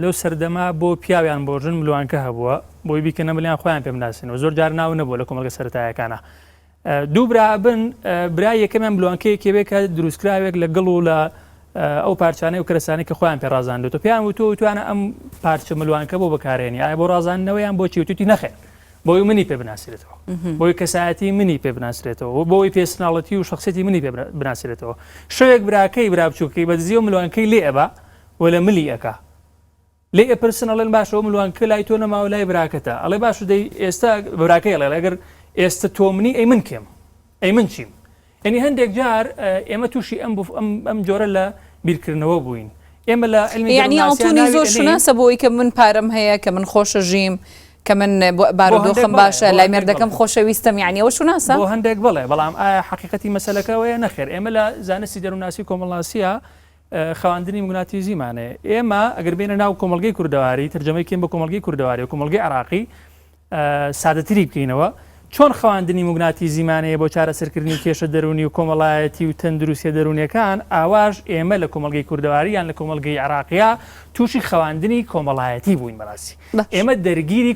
لەو سەردەما بۆ پیاویان بۆ ژن ملوانکە هەبووە بۆی بیکەنە ملیان خۆیان پێم ناسنەوە زۆر جار ناو نەبوو لە کۆمەلگە سەتایەکانە دوو برابن برای یەکەمیان ملوانکەیەکێبێ کە دروستکراوێک لە گڵ و لە ئەو پارچانەی و کرسانی کە خۆیان پێ ڕازاندێت و پێیان وتو توانە ئەم پارچە ملوانکە بۆ بەکارێنی ئایا بۆ ڕازاندنەوەیان بۆ چیوتتی نەخێت بۆی منی پێ بناسرێتەوە بۆی کەسایەتی منی پێ بناسرێتەوە بۆی پێسناڵەتی و شخصێتی منی پێ بناسرێتەوە شەوێک براکەی برابچووکەی بەدزیەوە ملوانکەی لێ ئەبا و لە ملی ئەکا لێ ئەپرسن ئەڵێن باشەوە ملوانکە لای تۆ نەماوە لای براکەتە ئەڵێ باش دەی ئێستا براکەی ئەڵێ لەگەر ئێستا تۆ منی ئەی من کێم ئەی من چیم یەنی هەندێک جار ئێمە تووشی ئەم ئەم جۆرە لە بیرکردنەوە بووین ئێمە لە علمی یعنی ئاڵتونی زۆر شوناسە بۆی کە من پارەم هەیە کە من خۆشە ژیم کە من بارودۆخم باشە لای مێردەکەم خۆشەویستم یعنی ئەوە شوناسە بۆ هەندێک بڵێ بەڵام ئایا حقیقەتی مەسلەکەەوەیە نەخێر ئێمە لە زانستی دەروناسی کۆمەڵناسیە خواندنی مگناتیزیمانێ ئێمە ئەگەر بینە ناو کۆمەلگەی کوردەواری ترجەمەی کێم بە کۆمەلگەی کوردەواری و کۆمەلگەی عراقی سادەتری بکەینەوە، چۆن خواندنی موگناتیزیمانەیە بۆ چارەسەرکردنی کێشە دەروونی و کۆمەڵایەتی و تەندروستیە دەروونیەکان، ئاواش ئێمە لە کۆمەڵگەی کوردەواری یان لە کۆمەڵگەی عێراقیا تووشی خواندنی کۆمەڵایەتی بووین بەڕاستی ئێمە دەرگیری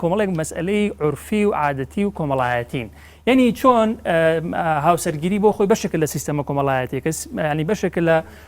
کۆمەڵێک مەسئەلەی عورفی و عادەتی و کۆمەڵایەتین یەنی چۆن هاوسەرگیری بۆ خۆی بەشێکە لە سیستەمە کۆمەڵایەتێکە ینی بەشێکە لە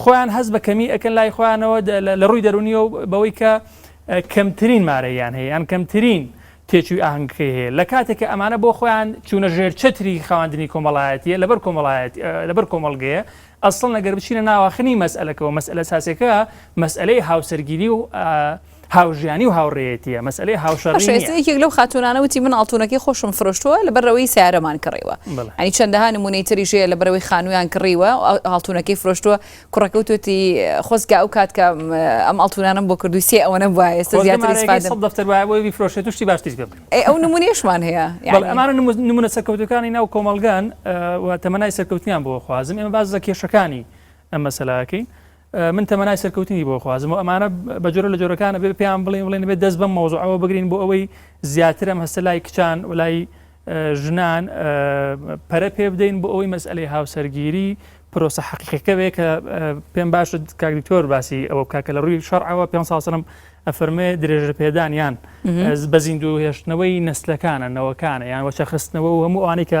خۆیان هەست بە کەمی ئەکەن لای خۆیانەوە لە ڕووی دەرونیەوە بەوەی کە کەمترین مارەیان هەیە یان کەمترین تێچووی ئاهنگەکەی هەیە لە کاتێک کە ئەمانە بۆ خۆیان چوونە ژێر چتری خواندنی کۆمەڵایەتیە لەبەر کۆمەڵایەت لەبەر کۆمەڵگەیە ئەسڵ نەگەر بچینە ناواخنی مەسئلەکەەوە مەسئلە ساسەکە مەسئلەی هاوسەرگیری و هاوژیانی و هاوڕێیەتیە مەسلەی هاوشەڕی باشە ئێستا نییە یەکێک لەو خاتوونانە وتی من ئاڵتوونەکەی خۆشم فرۆشتووە لەبەر ئەوەی سیارەمان کڕیوە بەڵێ ئەنی چەندەها نموونەی تریش هەیە لەبەر ئەوەی خانوویان کڕیوە و ئا- ئاڵتوونەکەی فرۆشتووە کوڕەکە وتوتی خۆزگە ئەو کات کە م، ئەم ئاڵتوونانەم بۆ کردووی سێ ئەوەنە بوایە ئێستا خۆزگە زیاتر مارەیەکەی ئیسفادەم سەد دەفتەر وایە بۆی بیفرۆشێت و شتی باشتریش پێ بکرێت ئەی ئەو نموونەیەشمان هەیە بەڵێ یانی ئەمانە نموو- نموونە سەرکەوتووەکانی ناو کۆمەڵگان ئە، و تەمەنای سەرکەوتنیان بۆ خوازم ئێمە باس لە کێشەکانی ئەم مەسەلە ئەکەین من تەمەنای سەرکەوتنی بۆ ئەخوازم و ئەمانە بە جۆرە لە جۆرەکان ئەبێ پێیان بڵێن بڵێن بێت دەست بەم مەوزوعەوە بگرین بۆ ئەوەی زیاترم هەستە لای کچان و لای ژنان پەرە پێ بدەین بۆ ئەوەی مەسئلەی هاوسەرگیری پرۆسە حقیقەکەوێ کە پێم باش کاکدکتۆر باسی ئەوە کاکە لە ڕووی شەرعەوە پێ ساسەرم ئەفەرمێ درێژە پێدان یان بە زیندوو هێشتنەوەی نسلەکانە نەوەکانە یان وەچەخستنەوە و هەموو ئەوانەی کە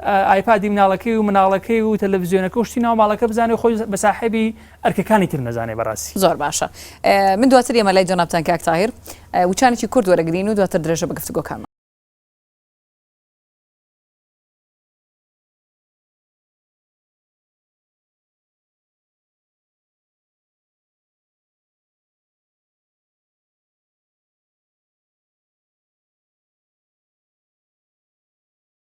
ئایپادی مناڵەکەی و مناڵەکەی و تەلەفزیۆنەکە و شتی ناو ماڵەکە بزانێ و خۆی بە ساحێبی ئەرکەکانی تر نەزانێ بەڕاسی. زۆر باشە من دواتر یەمە لای جەنابتان کاک تاهیر وچانێکی کورت وەرەگرین و دواتر درێژە بە گفتوگۆکانمان.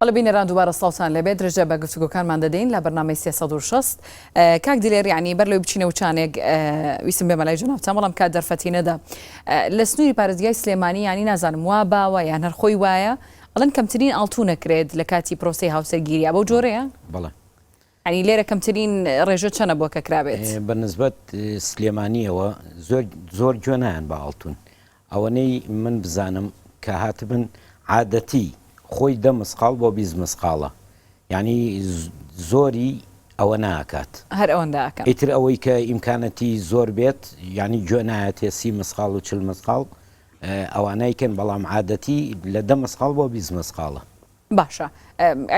بەڵێ بینەران دووبارە سڵاوتان لێبێت درێژە بە گفتوگۆکانمان دەدەین لە بەرنامەی سێ سەد و شەست کاک دلێر یعنی بەر لەوەی بچینە وچانێک ویستم بێمە لای جەنابتان بەڵام کات دەرفەتی نەدا لە سنووری پارێزگای سلێمانی یانی نازانم وا باوە یان هەر خۆی وایە ئەڵێن کەمترین ئاڵتوو نەکرێت لە کاتی پرۆسەی هاوسەرگیریە بەو جۆرەیە بەڵێ یانی لێرە کەمترین ڕێژە چەنە بۆ کەکرابێت؟ بە نسبەت سلێمانیەوە زۆر زۆر گوێ نایەن بە ئاڵتون ئەوەنەی من بزانم کە هاتبن عادەتی خۆی دە مسقاڵ بۆ بیست مسقاڵە یانی زۆری ئەوە ناکات هەر ئەوەندە ئەکەن. ئیتر ئەوەی کە ئیمکانەتی زۆر بێت یانی گوێ نایەتێ سی مسقاڵ و چل مسقاڵ ئەوانای کەن بەڵام عادەتی لە دە مسقاڵ بۆ بیست مسقاڵە. باشە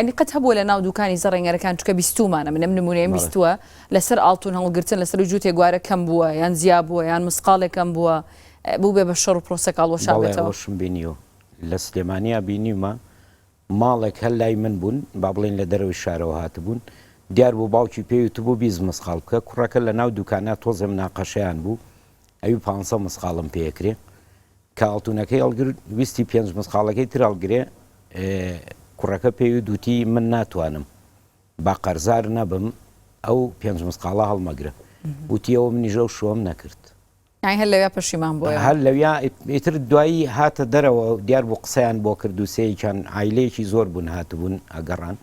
ینی قەت هەبووە لە ناو دوکانی زەڕێنگەرەکان چکە بیستومانە منم نمونەیە بیستوە لەسەر ئاڵتون هەڵگرتن لەسەر و جووتێک گوارە کەم بووە یان زیا بووە یان مسقالێکم بووە بوو بێ بە شەڕ و پرۆسەکڵ وەشانشم بینی و لە سلێمانیا بینیمە ماڵێک هەر لای من بوون با بڵین لە دەرەوەی شارەوە هاتبوون دیار بوو باوکی پێوی تو بوو بیز مسقال بکە کوڕەکە لە ناو دوکانە تۆزێ مناقەشیان بوو ئەوی پ مسقالم پێکرێ کە ئاڵتونەکەی هەڵگرت ویستی پێنج مسقاڵەکەی تر هەڵگرێ کوڕەکە پێیوت دوتی من ناتوانم با قەرزار نەبم ئەو پێنج مسقاڵە هەڵمەگرە وتیەوە منیش ئەو شوەم نەکرد. یانی هەر لەویا پەشیمان بووە. هەر لەویا ئیتر دوایی هاتە دەرەوە دیار بوو قسەیان بۆ کرد دووسێیەکیان عایلەیەکی زۆر بوون هاتبوون ئەگەڕان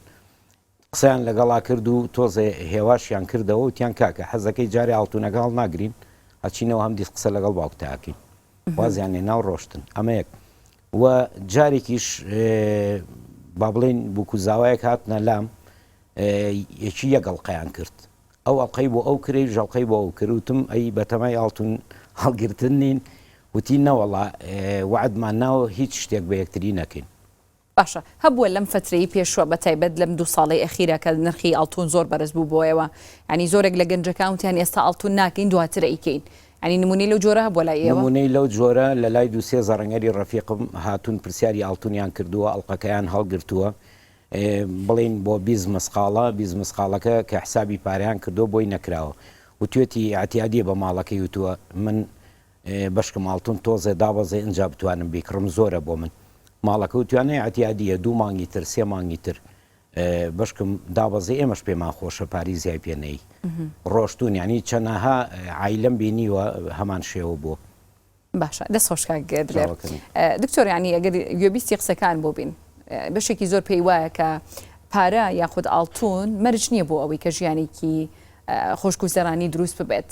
قسەیان لەگەڵا کرد و تۆزێ هێواشیان کردەوە وتیان کاکە حەزدەکەی جارێ ئاڵتونەکە هەڵناگرین ئەچینەوە هەمدیس قسە لەگەڵ باوکتا ئەکەین وازیان هێناو ڕۆشتن ئەمە یەک و جارێکیش بابڵێن بوکو زاوایەک هاتنە لام یەکی یەک ئەڵقەیان کرد ئەو ئەڵقەی بۆ ئەو کرێ ژەڵقەی بۆ ئەو کروتم ئەی بەتەمای ئاڵتون هەڵگرتن نین وتی نەوەڵا وعدمان ناوە هیچ شتێک بە یەکتری نەکەین باشە هەبووە لەم فەترەی پێشوە بەتایبەت لەم دوو ساڵەی ئەخیرە کە نرخی ئاڵتون زۆر بەرز بوو بۆیەوە ینی زۆرێک لە گەنجەکان وتیان ئێستا ئاڵتون ناکەین دواتر ئەیکەین ینی نمونەی لەو جۆرە هەبووە لای ئێوە؟ نمونەی لەو جۆرە لە لای دوو سێ زەڕەنگەری ڕەفیقم هاتوون پرسیاری ئاڵتونیان کردووە ئەڵقەکەیان هەڵگرتووە بڵێین بۆ بیست مسقاڵە بیست مسقاڵەکە کە حسابی پارەیان کردووە بۆی نەکراوە وتوێتی ئیعتیادیە بە ماڵەکەی وتووە من بەشکم ئاڵتون تۆزێ دابەزێ ئنجا بتوانم بیکڕم زۆرە بۆ من ماڵەکە و توانای عەتیادیە دوو مانگی تر سێ مانگی تر بەشکم دابەزێ ئێمەش پێمان خۆشە پاری زیای پێ نەی ڕۆشتون ینی چەنەها عیلم بینیوە هەمان شێوە بۆ باشە دەست خۆشکە دکتۆر ینی ئەگەر گوێبیستی قسەکان بۆ بین بەشێکی زۆر پێی وایە کە پارە یاخود ئاڵتون مەرج نییە بۆ ئەوەی کە ژیانێکی خۆشگوزەرانی دروست ببێت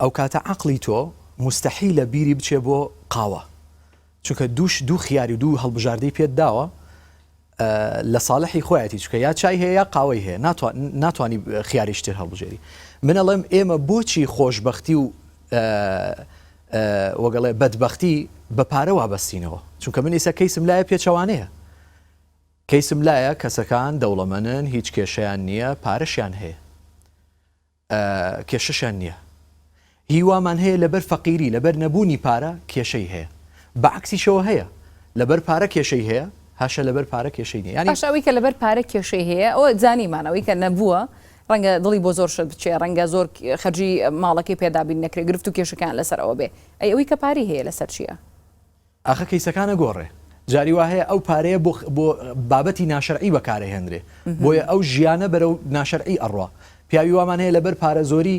ئەوکاتە عەقڵی تۆ موستەحیلە بیری بچێ بۆ قاوە چونکە دووش دوو خیاری و دوو هەڵبژاردەی پێت داوە لە ساڵحی خۆیەتی چکە یا چای هەیە یا قاوەی هەیە ناتوانانی خیاریشتر هەڵبژێری من ئەڵێم ئێمە بۆچی خۆشببختی و وەگەڵێ بەدبختی بە پارە وابەستینەوە چونکە من ئیسە کەیسم لایە پێچەوانەیە کەیسم لایە کەسەکان دەوڵەمەنن هیچ کێشیان نییە پارەشیان هەیە کێشەشیان نییە هی وامان هەیە لەبەر فەقیری لەبەر نەبوونی پارە کێشەی هەیە بە عەکسیشەوە هەیە لەبەر پارە کێشەی هەیە هاشە لەبەر پارە کێشەی نییە یانی باش ئەوەی کە لەبەر پارە کێشەی هەیە ئەوە زانیمان ئەوەی کە نەبووە ڕەنگە دڵی بۆ زۆر شت بچێ ڕەنگە زۆر خەرجی ماڵەکەی پێدابین نەکرێ گرفت و کێشەکان لەسەر ئەوە بێ ئەی ئەوەی کە پارەی هەیە لەسەر چییە؟ ئاخە کەیسەکان ئەگۆڕێ جاری وا هەیە ئەو پارەیە بۆ بۆ بابەتی ناشەرعی بەکار ئەهێنرێ بۆیە ئەو ژیانە بەرەو ناشەرعی ئەڕوا پیاوی وامان هەیە لەبەر پارە زۆری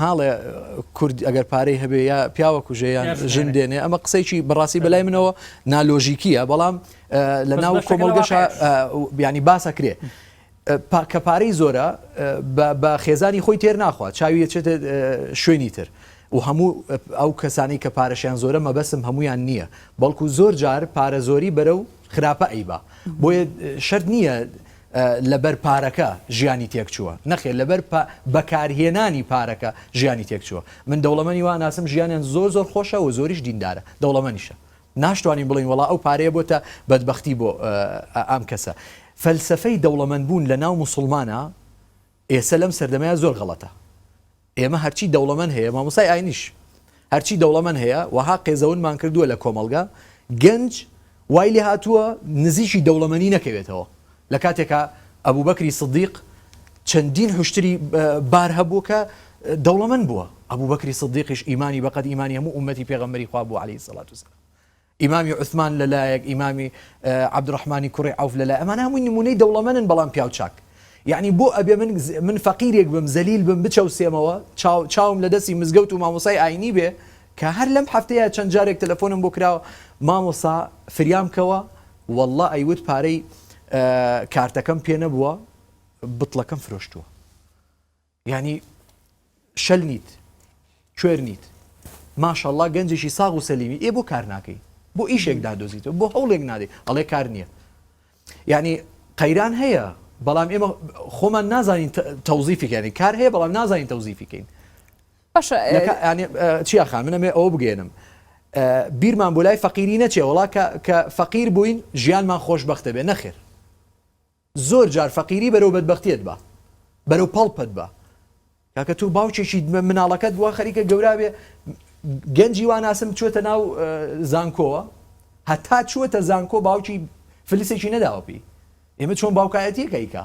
هاڵێ کورد ئەگەر پارەی هەبێ یا پیاوە کوژێ یان ژن دێنێ ئەمە قسەیکی بەڕاستی بەلای منەوە نالۆژیکیە بەڵام لە ناو کۆمەڵگەشە بیانی باسەکرێ کە پارەی زۆرە بە خێزانی خۆی تێر ناخوا چاوی دەچێتە شوێنی تر و هەموو ئەو کەسانی کە پارەشیان زۆرە مەبەسم هەمویان نییە بەڵکو زۆر جار پارە زۆری بەرە و خراپە ئەیبا بۆیە شەر نییە لەبەر پارەکە ژیانی تێک چووە نەخێ لەبەر بەکارهێنانی پارەکە ژیانی تێک چووە من دەوڵەمەنی واناسم ژیانیان زۆر زۆر خۆشە و زۆریش دیندارە دەوڵەمەنیشە ناشتوانین بڵێین وەڵا ئەو پارەیە بۆتە بەدبەختی بۆ ئام کەسە فەلسەفەی دەوڵەمەند بوون لە ناو موسڵمانە ئێسە لەم سەردەمەیە زۆر غەڵەتە ئێمە هەرچی دەوڵەمەند هەیە مامۆسای ئاینیش هەرچی دەوڵەمەند هەیە وەها قێزەونمان کردووە لە کۆمەڵگە گەنج وای لێ هاتووە نزیکی دەوڵەمەنی نەکەوێتەوە لە کاتێکا ئەبوبەکری سدیق چەندین حوشتری بار هەبوو کە دەوڵەمەند بووە ئەبوبەکری سدیقیش ئیمانی بەقەد ئیمانی هەموو ئومەتی پێغەمبەری خوا بوو عەلەیهی سەڵات وسەلام ئیمامی عوسمان لەلایەک ئیمامی عەبدوڕەحمانی کوڕی عەوف لەلای ئەمانە هەمووی نمونەی دەوڵەمەنن بەڵام پیاو چاک یعنی بۆ ئەبێ من من فەقیرێک بم زەلیل بم بچەوسێمەوە چاو چاوم لە دەستی مزگەوت و مامۆسای ئاینی بێ کە هەر لەم هەفتەیە چەند جارێک تەلەفۆنم بۆ کرا مامۆستا فریام کەوە وەڵڵا ئەیوت پارەی کارتەکەم پێ نەبووە بتڵەکەم فرۆشتووە ینی شەل نیت کوێر نیت ماشەڵا گەنجێکی ساغ و سەلیمی ئێ بۆ کار ناکەی بۆ ئیشێک دادۆزیتەوە بۆ هەوڵێک نادەی ئەڵێ کار نییە ینی قەیران هەیە بەڵام ئێمە خۆمان نازانین تەوزیفیکەێنی کار هەیە بەڵام نازانین تەوزیفیکەین نەکا یانی چی ئاخان من ئەمەوێ ئەوە بگەیەنم بیرمان بۆ لای فەقیری نەچێ وەڵا کە کە فەقیر بووین ژیانمان خۆشبەخت دەبێ نەخێر زۆر جار فەقیری بەرەو بەدبەختیت بە بەرەو پەڵپەت بە کاکە تۆ باوکێکی مناڵەکەت بووە خەریکە گەورابێ گەنجی واناسم چۆتە ناو زانکۆوە هەتا چووەتە زانکۆ باوکی فلسێکی نەداوە پێی ئێمە چۆن باوکایەتیەکەیکە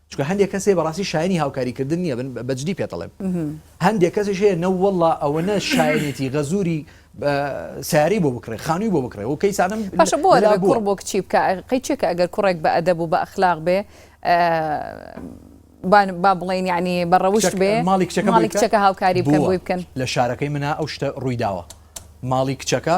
چونکە هەندێک کەس هەیە بەڕاستی شایەنی هاوکاری کردن نیە بن بەجدی پێت ئەڵێم هەندێک کەسیش هەیە نەوەڵا ئەوەنە شایەنێتی غەزوری ساری بۆ بکڕێ خانووی بۆ بکڕێ و کەیسانم باشە بۆ لە کوڕ بۆ کچی بکە قەی چێکە ئەگەر کوڕێک بە ئەدەب و بە ئەخلاق بێ با بڵێن ینی بەڕەوشت بێ ماڵی کچەکە ماڵی کچەکە هاوکاری بکەن بۆی بکەن لە شارەکەی منە ئەو شتە ڕوویداوە ماڵی کچەکە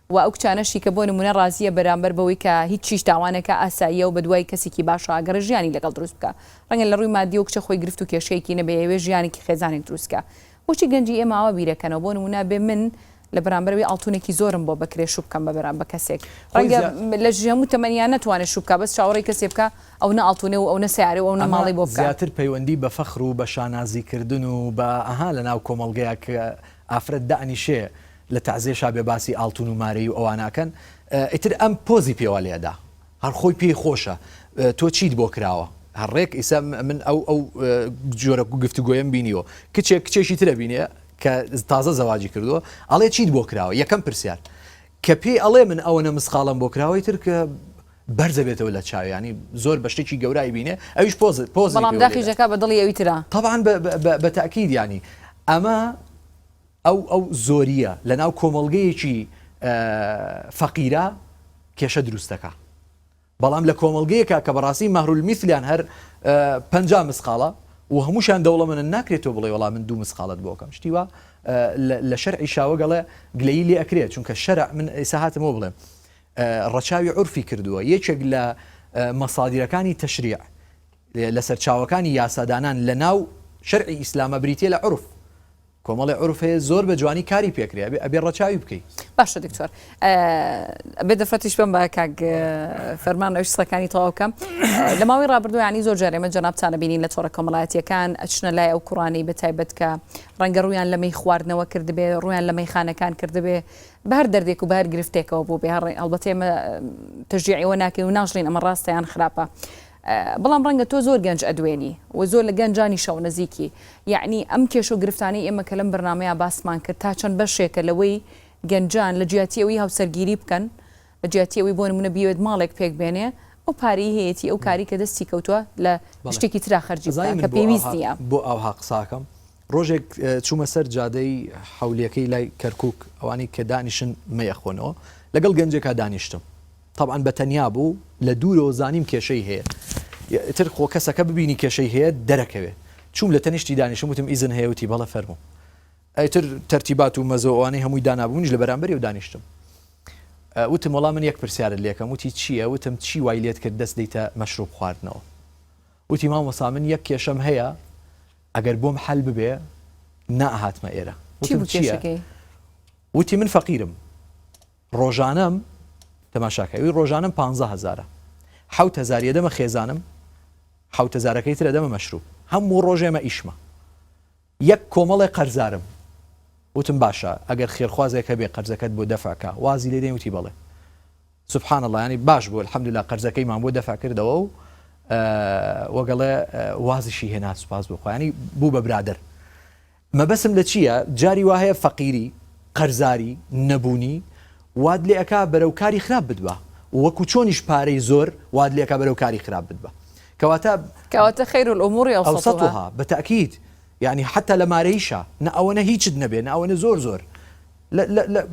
وە ئەو کچانەشی کە بۆ نمونە ڕازیە بەرامبەر بەوەی کە هیچ چیش داوا نەکا ئاساییە و بەدوای کەسێکی باشا ئەگەڕێ ژیانی لەگەڵ دروست بکا ڕەنگە لە ڕووی مادیەوە کچە خۆی گرفت و کێشەیەکی نەبێ ئەیەوێ ژیانێکی خێزانێک دروست کا بۆچی گەنجی ئێمە ئاوا بیرەکەنەوە بۆ نمونە بێ من لە بەرامبەر ئەوی ئاڵتونێکی زۆرم بۆ بەکرێ شو بکەم بەبرا بە کەسێک ڕەنگە لە ژی هەموو تەمەنیا نەتوانێ شو بکا بەس چاوەڕێی کەسێ بکا ئەو نە ئاڵتونێ و ئەو نە سەیارە و ئەو نە ماڵی بۆ بکا. زیاتر پەیوەندی بە فەخر و بە شانازی کردن و بە ئەها لە ناو کۆمەڵگەیەک ئافرەت دائەنیشێ لە تەعزێ شا بێ باسی ئاڵتون و مارەی و ئەوانە ئەکەن ئیتر ئەم پۆزی پێوە لێ ئەدا هەر خۆی پێی خۆشە تۆ چیت بۆ کراوە هەر ڕێک ئیسە من ئەو ئەو جۆرە گفتوگۆیەم بینیوە کچێک کچێکی ترە بینێ کە تازە زەواجی کردووە ئەڵێ چیت بۆ کراوە یەکەم پرسیار کە پێی ئەڵێ من ئەوەنە مسقاڵم بۆ کراوەی تر کە بەرزە بێتەوە لە چاویانی زۆر بە شتێکی گەورای بینێ ئەویش پۆز پۆز بەڵام داخیژەکە بە دڵی ئەوی ترا طبعا بە تاکیدیانی ئەمە ئەو ئەو زۆرییە لە ناو کۆمەڵگەیەکی فەقیرا کێشە دروست دەکا بەڵام لە کۆمەڵگەیەکە کە بەڕاستی مەهرول میسلیان هەر پنج مسقاڵە و هەمووشان دەوڵە منە ناکرێتەوە بڵێ وڵام من دوو مسقالت بۆکەم شتیوە لە شەر عیشاوە گەڵێ گلەی لێ ئەکرێت چونکە شەر من ئێسا هاتمەوە بڵێم ڕەچاوی عرفی کردووە یەکێک لە مەسادیرەکانی تەشریع لە سەرچاوەکانی یاسادانان لە ناو شەرعی ئیسلامە بریتە لە عرف کۆمەڵێ عورف هەیە زۆر بە جوانی کاری پێکرێ ئەبێ ئەبێ ڕەچاوی بکەی. باشە دکتۆر ئەبێ دەفەتیش بم بە کاک فەرمان ئەوش سەکانی تەواوکەم لە ماوەی ڕابردویانی زۆر جارێمە جەنابتانە بینین لە تۆڕە کۆمەڵایەتیەکان ئەچنە لای ئەو کوڕانی بە تایبەت کە ڕەنگە ڕویان لەمەی خواردنەوە کردبێ ڕویان لە مەیخانەکان کردبێ بەر دەردێک و بار گرفتێکەوە بۆ بێ هەڕێ ئەڵبەتێمە تەژیعەوە ناکەی و ناژڵین ئەمە ڕاستەیان خراپە. بەڵام ڕەنگە تۆ زۆر گەنج ئەدوێنی و زۆر لە گە نجانی شە ونزیکی یەعنی ئەم کێشە و گرفتانەی ئێمە کە لەم بەرنامەیا باسمان کرد تا چەند بە شێکە لە وەی گە نجان لە جیاتی ئەوەی هاوسەرگیری بکەن لە جیاتی ئەوەی بۆ نمونە بیەوێت ماڵێک پێک بێنێ ئەو پارەی هەیەتی ئەو کاری کە دەستی کەوتوە لە بەڵێ شتێکی ترا خەرجی ئەزانی بکا من کە بۆ پێویست ئاوها نیە. بۆ ئاوها قساکەم ڕۆژێک چومە سەر جادەی حەولیەکەی لای کەرکوک ئەوانەی کە دانیشن مەیە خۆنەوە لەگەڵ گەنجێکا دانیشتم تەبعەن بە تەنیا بوو لە دوورەوە زانیم کێشەی هەیە ئیتر خۆ کەسەکە ببینی کێشەی هەیە دەرەکەوێ چووم لە تەنیشتی دانیشتم وتم ئیزن هەیە وتی بەڵێ فەرموو ئیتر تەرتیبات و مەزە و ئەوانەی هەمووی دانابوو منیش لە بەرامبەریەوە دانیشتم وتم وەڵا من یەک پرسیارت لێکەم وتی چییە وتم چی وای لێت کرد دەست دەیتە مەشروب خواردنەوە وتی مامۆستا من یەک کێشەم هەیە ئەگەر بۆم حەل ببێ نەئەهاتمە ئێرە چی بوو کێشەکەی وتی من فەقیرم ڕۆژانەم تەماشا کە ئەوی ڕۆژانەم پانزە هەزارە حەوت هەزاری ئەدەمە خێزانم حەوت هەزارەکەی تر ئەدەمە مەشروب هەموو ڕۆژێ ئەمە ئیشمە یەک کۆمەڵێ قەرزارم وتم باشە ئەگەر خێرخوازێک هەبێ قەرزەکەت بۆ دەفع کا وازی لێ دێن وتی بەڵێ سبحان الله ینی باش بوو الحمدلله قەرزەکەی مان بۆ دەفع کردەوە و وەگەڵێ وازیشی هێنا سوپاس بۆ خۆیانی بوو بە برادر مەبەسم لە چیە جاری وا هەیە فەقیری، قەرزاری، نەبوونی وات لێ ئەکا بەرەو کاری خراپ بتبا و وەکو چۆنیش پارەی زۆر وات لێ ئەکا بەرەو کاری خراپ بتبا کەواتە کەواتە خیر الامور اوسطها. اوسطها بە تاکید یانی حتی لە مارەیشا نە ئەوەنە هیچت نەبێ نە ئەوەنە زۆر زۆر.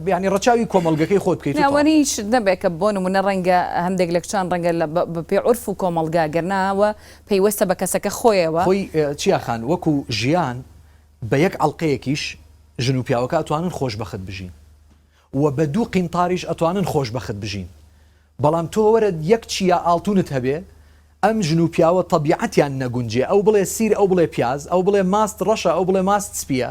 یانی ڕەچاوی کۆمەڵگەکەی خۆت بکەیت و تەواو. ناوەنیش نەبێت کە بۆ نموونە ڕەنگە هەندێک لە کچان ڕەنگە لە بە پێی عورف و کۆمەڵگا گەر نا وە پەیوەستە بە کەسەکە خۆیەوە. خۆی چیا خان وەکو ژیان بە یەک عەڵقەیەکیش ژن و پیاوەکە ئەتوانن خۆش بەخت بژین و بە دوو قینتاریش ئەتوانن خۆش بەخت بژین بەڵام تۆ وەرە یەک چیا ئاڵتونت هەبێ ئەم ژن و پیاوە تەبیعەتیان نەگونجێ ئەو بڵێ سیر ئەو بڵێ پیاز ئەو بڵێ ماست ڕەشە ئەو بڵێ ماست سپیە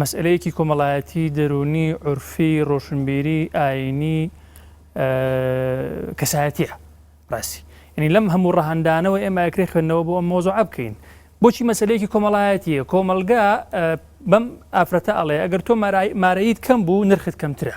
مەسئەلەیەکی کۆمەڵایەتی، دەروونی، عورفی، ڕۆشنبیری، ئایینی، کەسایەتییە. ڕاستی یانی لەم هەموو ڕەهەندانەوە ئێمە ئەکرێ خوێندنەوە بۆ ئەم مۆزوعە بکەین. بۆچی مەسلەیەکی کۆمەڵایەتیە کۆمەلگا بەم ئافرەتە ئەڵێ ئەگەر تۆ مارەیت کەم بوو نرخت کەمترە.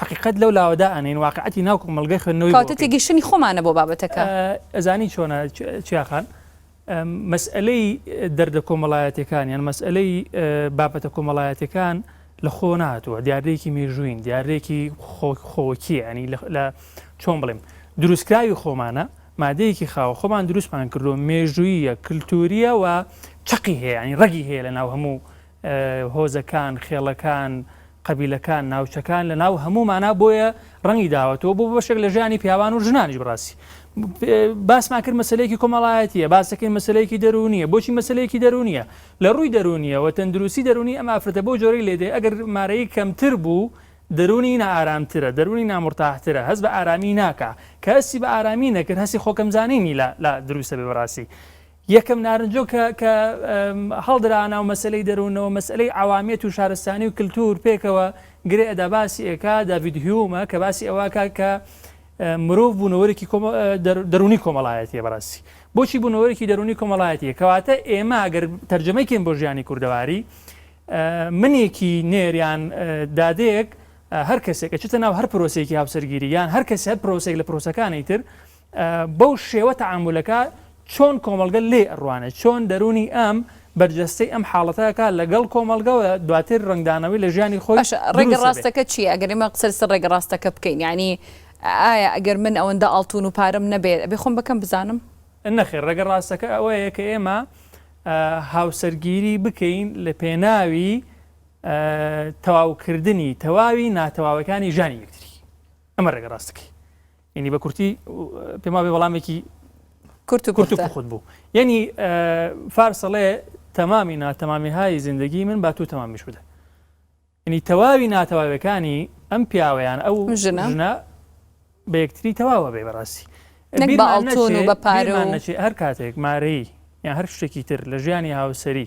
حەقیقەت لەو لاوە دائەنێین، واقیعەتی ناو کۆمەڵگەی خوێندنەوەی بۆ بکەین. کەواتە تێگەیشتنی خۆمانە بۆ بابەتەکە. ئەزانی چۆنە چیا خان، مەسئەلەی دەردە کۆمەڵایەتیەکان یان مەسئەلەی بابەتە کۆمەڵایەتیەکان لە خۆوە نەهاتووە، دیاردەیەکی مێژوویین، دیاردەیەکی خۆوەکیە، یانی لە چۆن بڵێم، دروستکراوی خۆمانە، مادەیەکی خاوە، خۆمان دروستمان کردووە، مێژووییە، کلتورییە و چەقی هەیە، یانی ڕەگی هەیە لە ناو هەموو هۆزەکان، خێڵەکان، قەبیلەکان، ناوچەکان لە ناو هەموومانا بۆیە ڕەنگی داوەتەوە بۆ بەشێک لە ژیانی پیاوان و ژنانیش بڕاستی باسمان کرد مەسلەیەکی کۆمەڵایەتیە باسەکەی مەسلەیەکی دەرونیە بۆچی مەسلەیەکی دەرونیە لە ڕووی دەرونیەوە تەندروستی دەرونی ئەم ئافرەتە بۆ جۆری لێدێ ئەگەر مارەی کەمتر بوو دەرونی نائارامترە دەرونی نامرتاحترە هەست بە ئارامی ناکە کە هەستی بە ئارامی نەکرد هەستی خۆکەمزانینی لە دروستە بێ بەڕاستی یەکەم نارنجۆک کە کە هەڵدرا ناو مەسەلەی دەروونەوە مەسەلەی عەوامیەت و شارستانی و کلتوور پێکەوە گرێ ئەدا باسی ئەکا داڤید هیومە کە باسی ئەوە ئەکا کە مرۆڤ بوونەوەرێکی کۆمە دەر دەروونی کۆمەڵایەتیە بەڕاستی بۆچی بوونەوەرێکی دەروونی کۆمەڵایەتیە کەواتە ئێمە گەر تەرجەمەی کەین بۆ ژیانی کوردەواری منێکی نێر یان دادەیەک هەر کەسێک ئەچێتە ناو هەر پرۆسێکی هاوسەرگیری یان هەر کەس هەر پرۆسێک لە پرۆسەکانی تر بەو شێوە تەعامولەکە چۆن کۆمەڵگە لێی ئەڕوانێت، چۆن دەروونی ئەم بەرجەستەی ئەم حاڵەتە ئەکات لەگەڵ کۆمەڵگە و دواتر ڕەنگدانەوەی لە ژیانی خۆی باشە ڕێگە دروست دەبێت. ڕاستەکە چییە؟ ئەگەر ئێمە قسە لەسەر ڕێگە ڕاستەکە بکەین یانی ئایا ئەگەر من ئەوەندە ئاڵتوون و پارەم نەبێت ئەبێ خۆم بە کەم بزانم؟ نەخێر، ڕێگە ڕاستەکە ئەوەیە کە ئێمە هاوسەرگیری بکەین لە پێناوی تەواوکردنی تەواوی ناتەواوەکانی ژانی یەکتری. ئەمە ڕێگە ڕاستەکەی. یەنی بە کورتی پێم وابێ وەڵامێکی کورت و کورت و پوخت بوو یەنی فارسەڵێ تەمامی ناتەمامی های زیندگی من با تو تەمامیش بدە ینی تەواوی ناتەواوەکانی ئەم پیاوەیان ئەو ژنە بە یەکتری تەواوە بێ بەڕاستی بە پارێ هەر کاتێک مارەی یان هەر شتێکی تر لە ژیانی هاوسری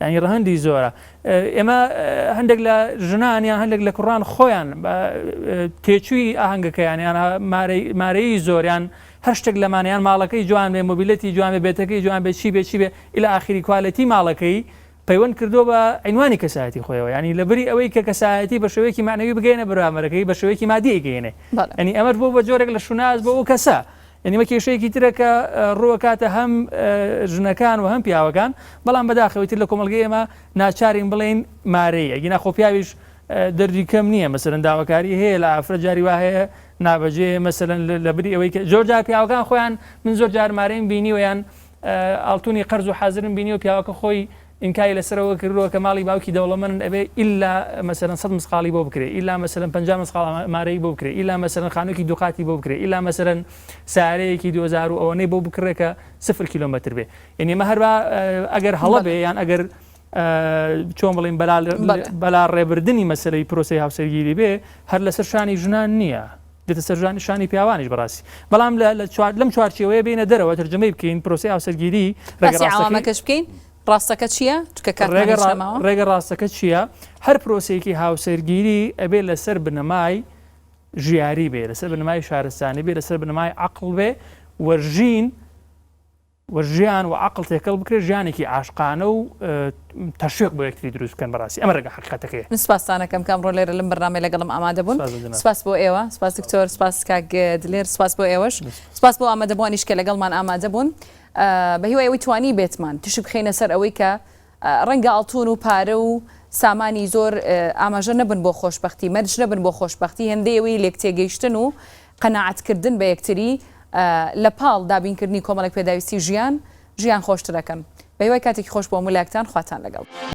یانی ڕەهەندی زۆرە ئێمە هەندێک لە ژنان یان هەندێک لە کوڕان خۆیان تێچووی ئاهەنگەکەیان یان مارەی زۆریان هەر شتێک لەمانیان ماڵەکەی جوان بێ مۆبیلەتی جوان بێ بێتەکەی جوان بێ چی بێ چی بێ ئیلا ئاخری کوالەتی ماڵەکەی پەیوەند کردو بە عینوانی کەسایەتی خۆیەوە ینی لە بری ئەوەی کە کەسایەتی بە شێوەیەکی معنەوی بگەینە برامەرەکەی بە شێوەیەکی مادیگەینێ ئەنی ئەمەش بۆ بە جۆرێک لە شوناز بۆ ئەو کەسە یانی ئەمە کێشەیەکی ترە کە ڕووەکاتە هەم ژنەکان و هەم پیاوەکان، بەڵام بەداخەوە ئیتر لە کۆمەڵگەی ئێمە ناچارین بڵێین مارەیی، ئەگینا خۆ پیاویش دەردی کەم نییە مەسەلەن داواکاری هەیە لە ئافرەت جاری وا هەیە نابەجێیە مەسەلەن لەبری ئەوەی کە زۆر جار پیاوەکان خۆیان من زۆر جار مارەیم بینیوە یان ئاڵتونی قەرز و حازرم بینیوە پیاوەکە خۆی ئینکاری لەسەرەوە کردووە کە ماڵی باوکی دەوڵەمەنن ئەبێ ئیلا مەسەلەن سەد مسقاڵی بۆ بکرێ ئیلا مەسەلەن پەنجا مسقاڵ مارەیی بۆ بکرێ ئیلا مەسەلەن خانوویەکی دوو قاتی بۆ بکرێ ئیلا مەسەلەن سارەیەکی دوو هەزار و ئەوەنەی بۆ بکڕێ کە سفر کیلۆمەتر بێ یعنی ئەمە هەر ئەگەر هەڵە بێ یان ئەگەر چۆن بڵین بەلا ڕێبردننی مەسلەی پرۆسی هاوسەرگیری بێ هەر لەسەر شانی ژنان نییە دێتە سەر جوانی شانی پیاوانیش بەڕاستی بەڵام لە لە چوار لەم چوارچێوەیە بینە دەرەوە ترجمەی بکەین پرۆسی هاوسەرگیری ڕێگە باسی ڕاستەکەی عەوامەکەش بکەین ڕاستەکە چییە چونکە کاتمان ڕێگە هیچ ڕا- نەماوە ڕێگە ڕاستەکە چییە هەر پرۆسەیەکی هاوسەرگیری ئەبێ لەسەر بنەمای ژیاری بێ لەسەر بنەمای شارستانی بێ لەسەر بنەمای عەقڵ بێ و ژین و ژیان و عەقڵ تێکەڵ بکرێت ژیانێکی عاشقانە و تەشویق بۆ یەکتری دروست بکەن بەڕاستی ئەمە ڕێگا حەقیقەتەکەیە. من سپاستان ئەکەم کە ئەمڕۆ لێرە لەم بەرنامەیە لەگەڵم ئامادە بوون. سپاس بۆ جەنابت. سپاس بۆ ئێوە. سپاس دکتۆر. سپاس کاک دلێر. سپاس بۆ ئێوەش. سپاس بۆ ئامادەبووانیش کە لەگەڵمان ئامادە بوون. بە هیوای ئەوەی توانیبێتمان تیشک بخەینە سەر ئەوەی کە ڕەنگە ئاڵتوون و پارە و سامانی زۆر ئاماژە نەبن بۆ خۆشبەختی، مەرج نەبن بۆ خۆشبەختی، هێندەی ئەوەی لێکتێگەیشتن و قەناعەتکردن بە یەکتری لە پاڵ دابینکردنی کۆمەڵێک پێداویستی ژیان، ژیان خۆشتر ئەکەن. بە هیوای کاتێکی خۆش بۆ هەموو لایەکتان. خواتان لەگەڵ.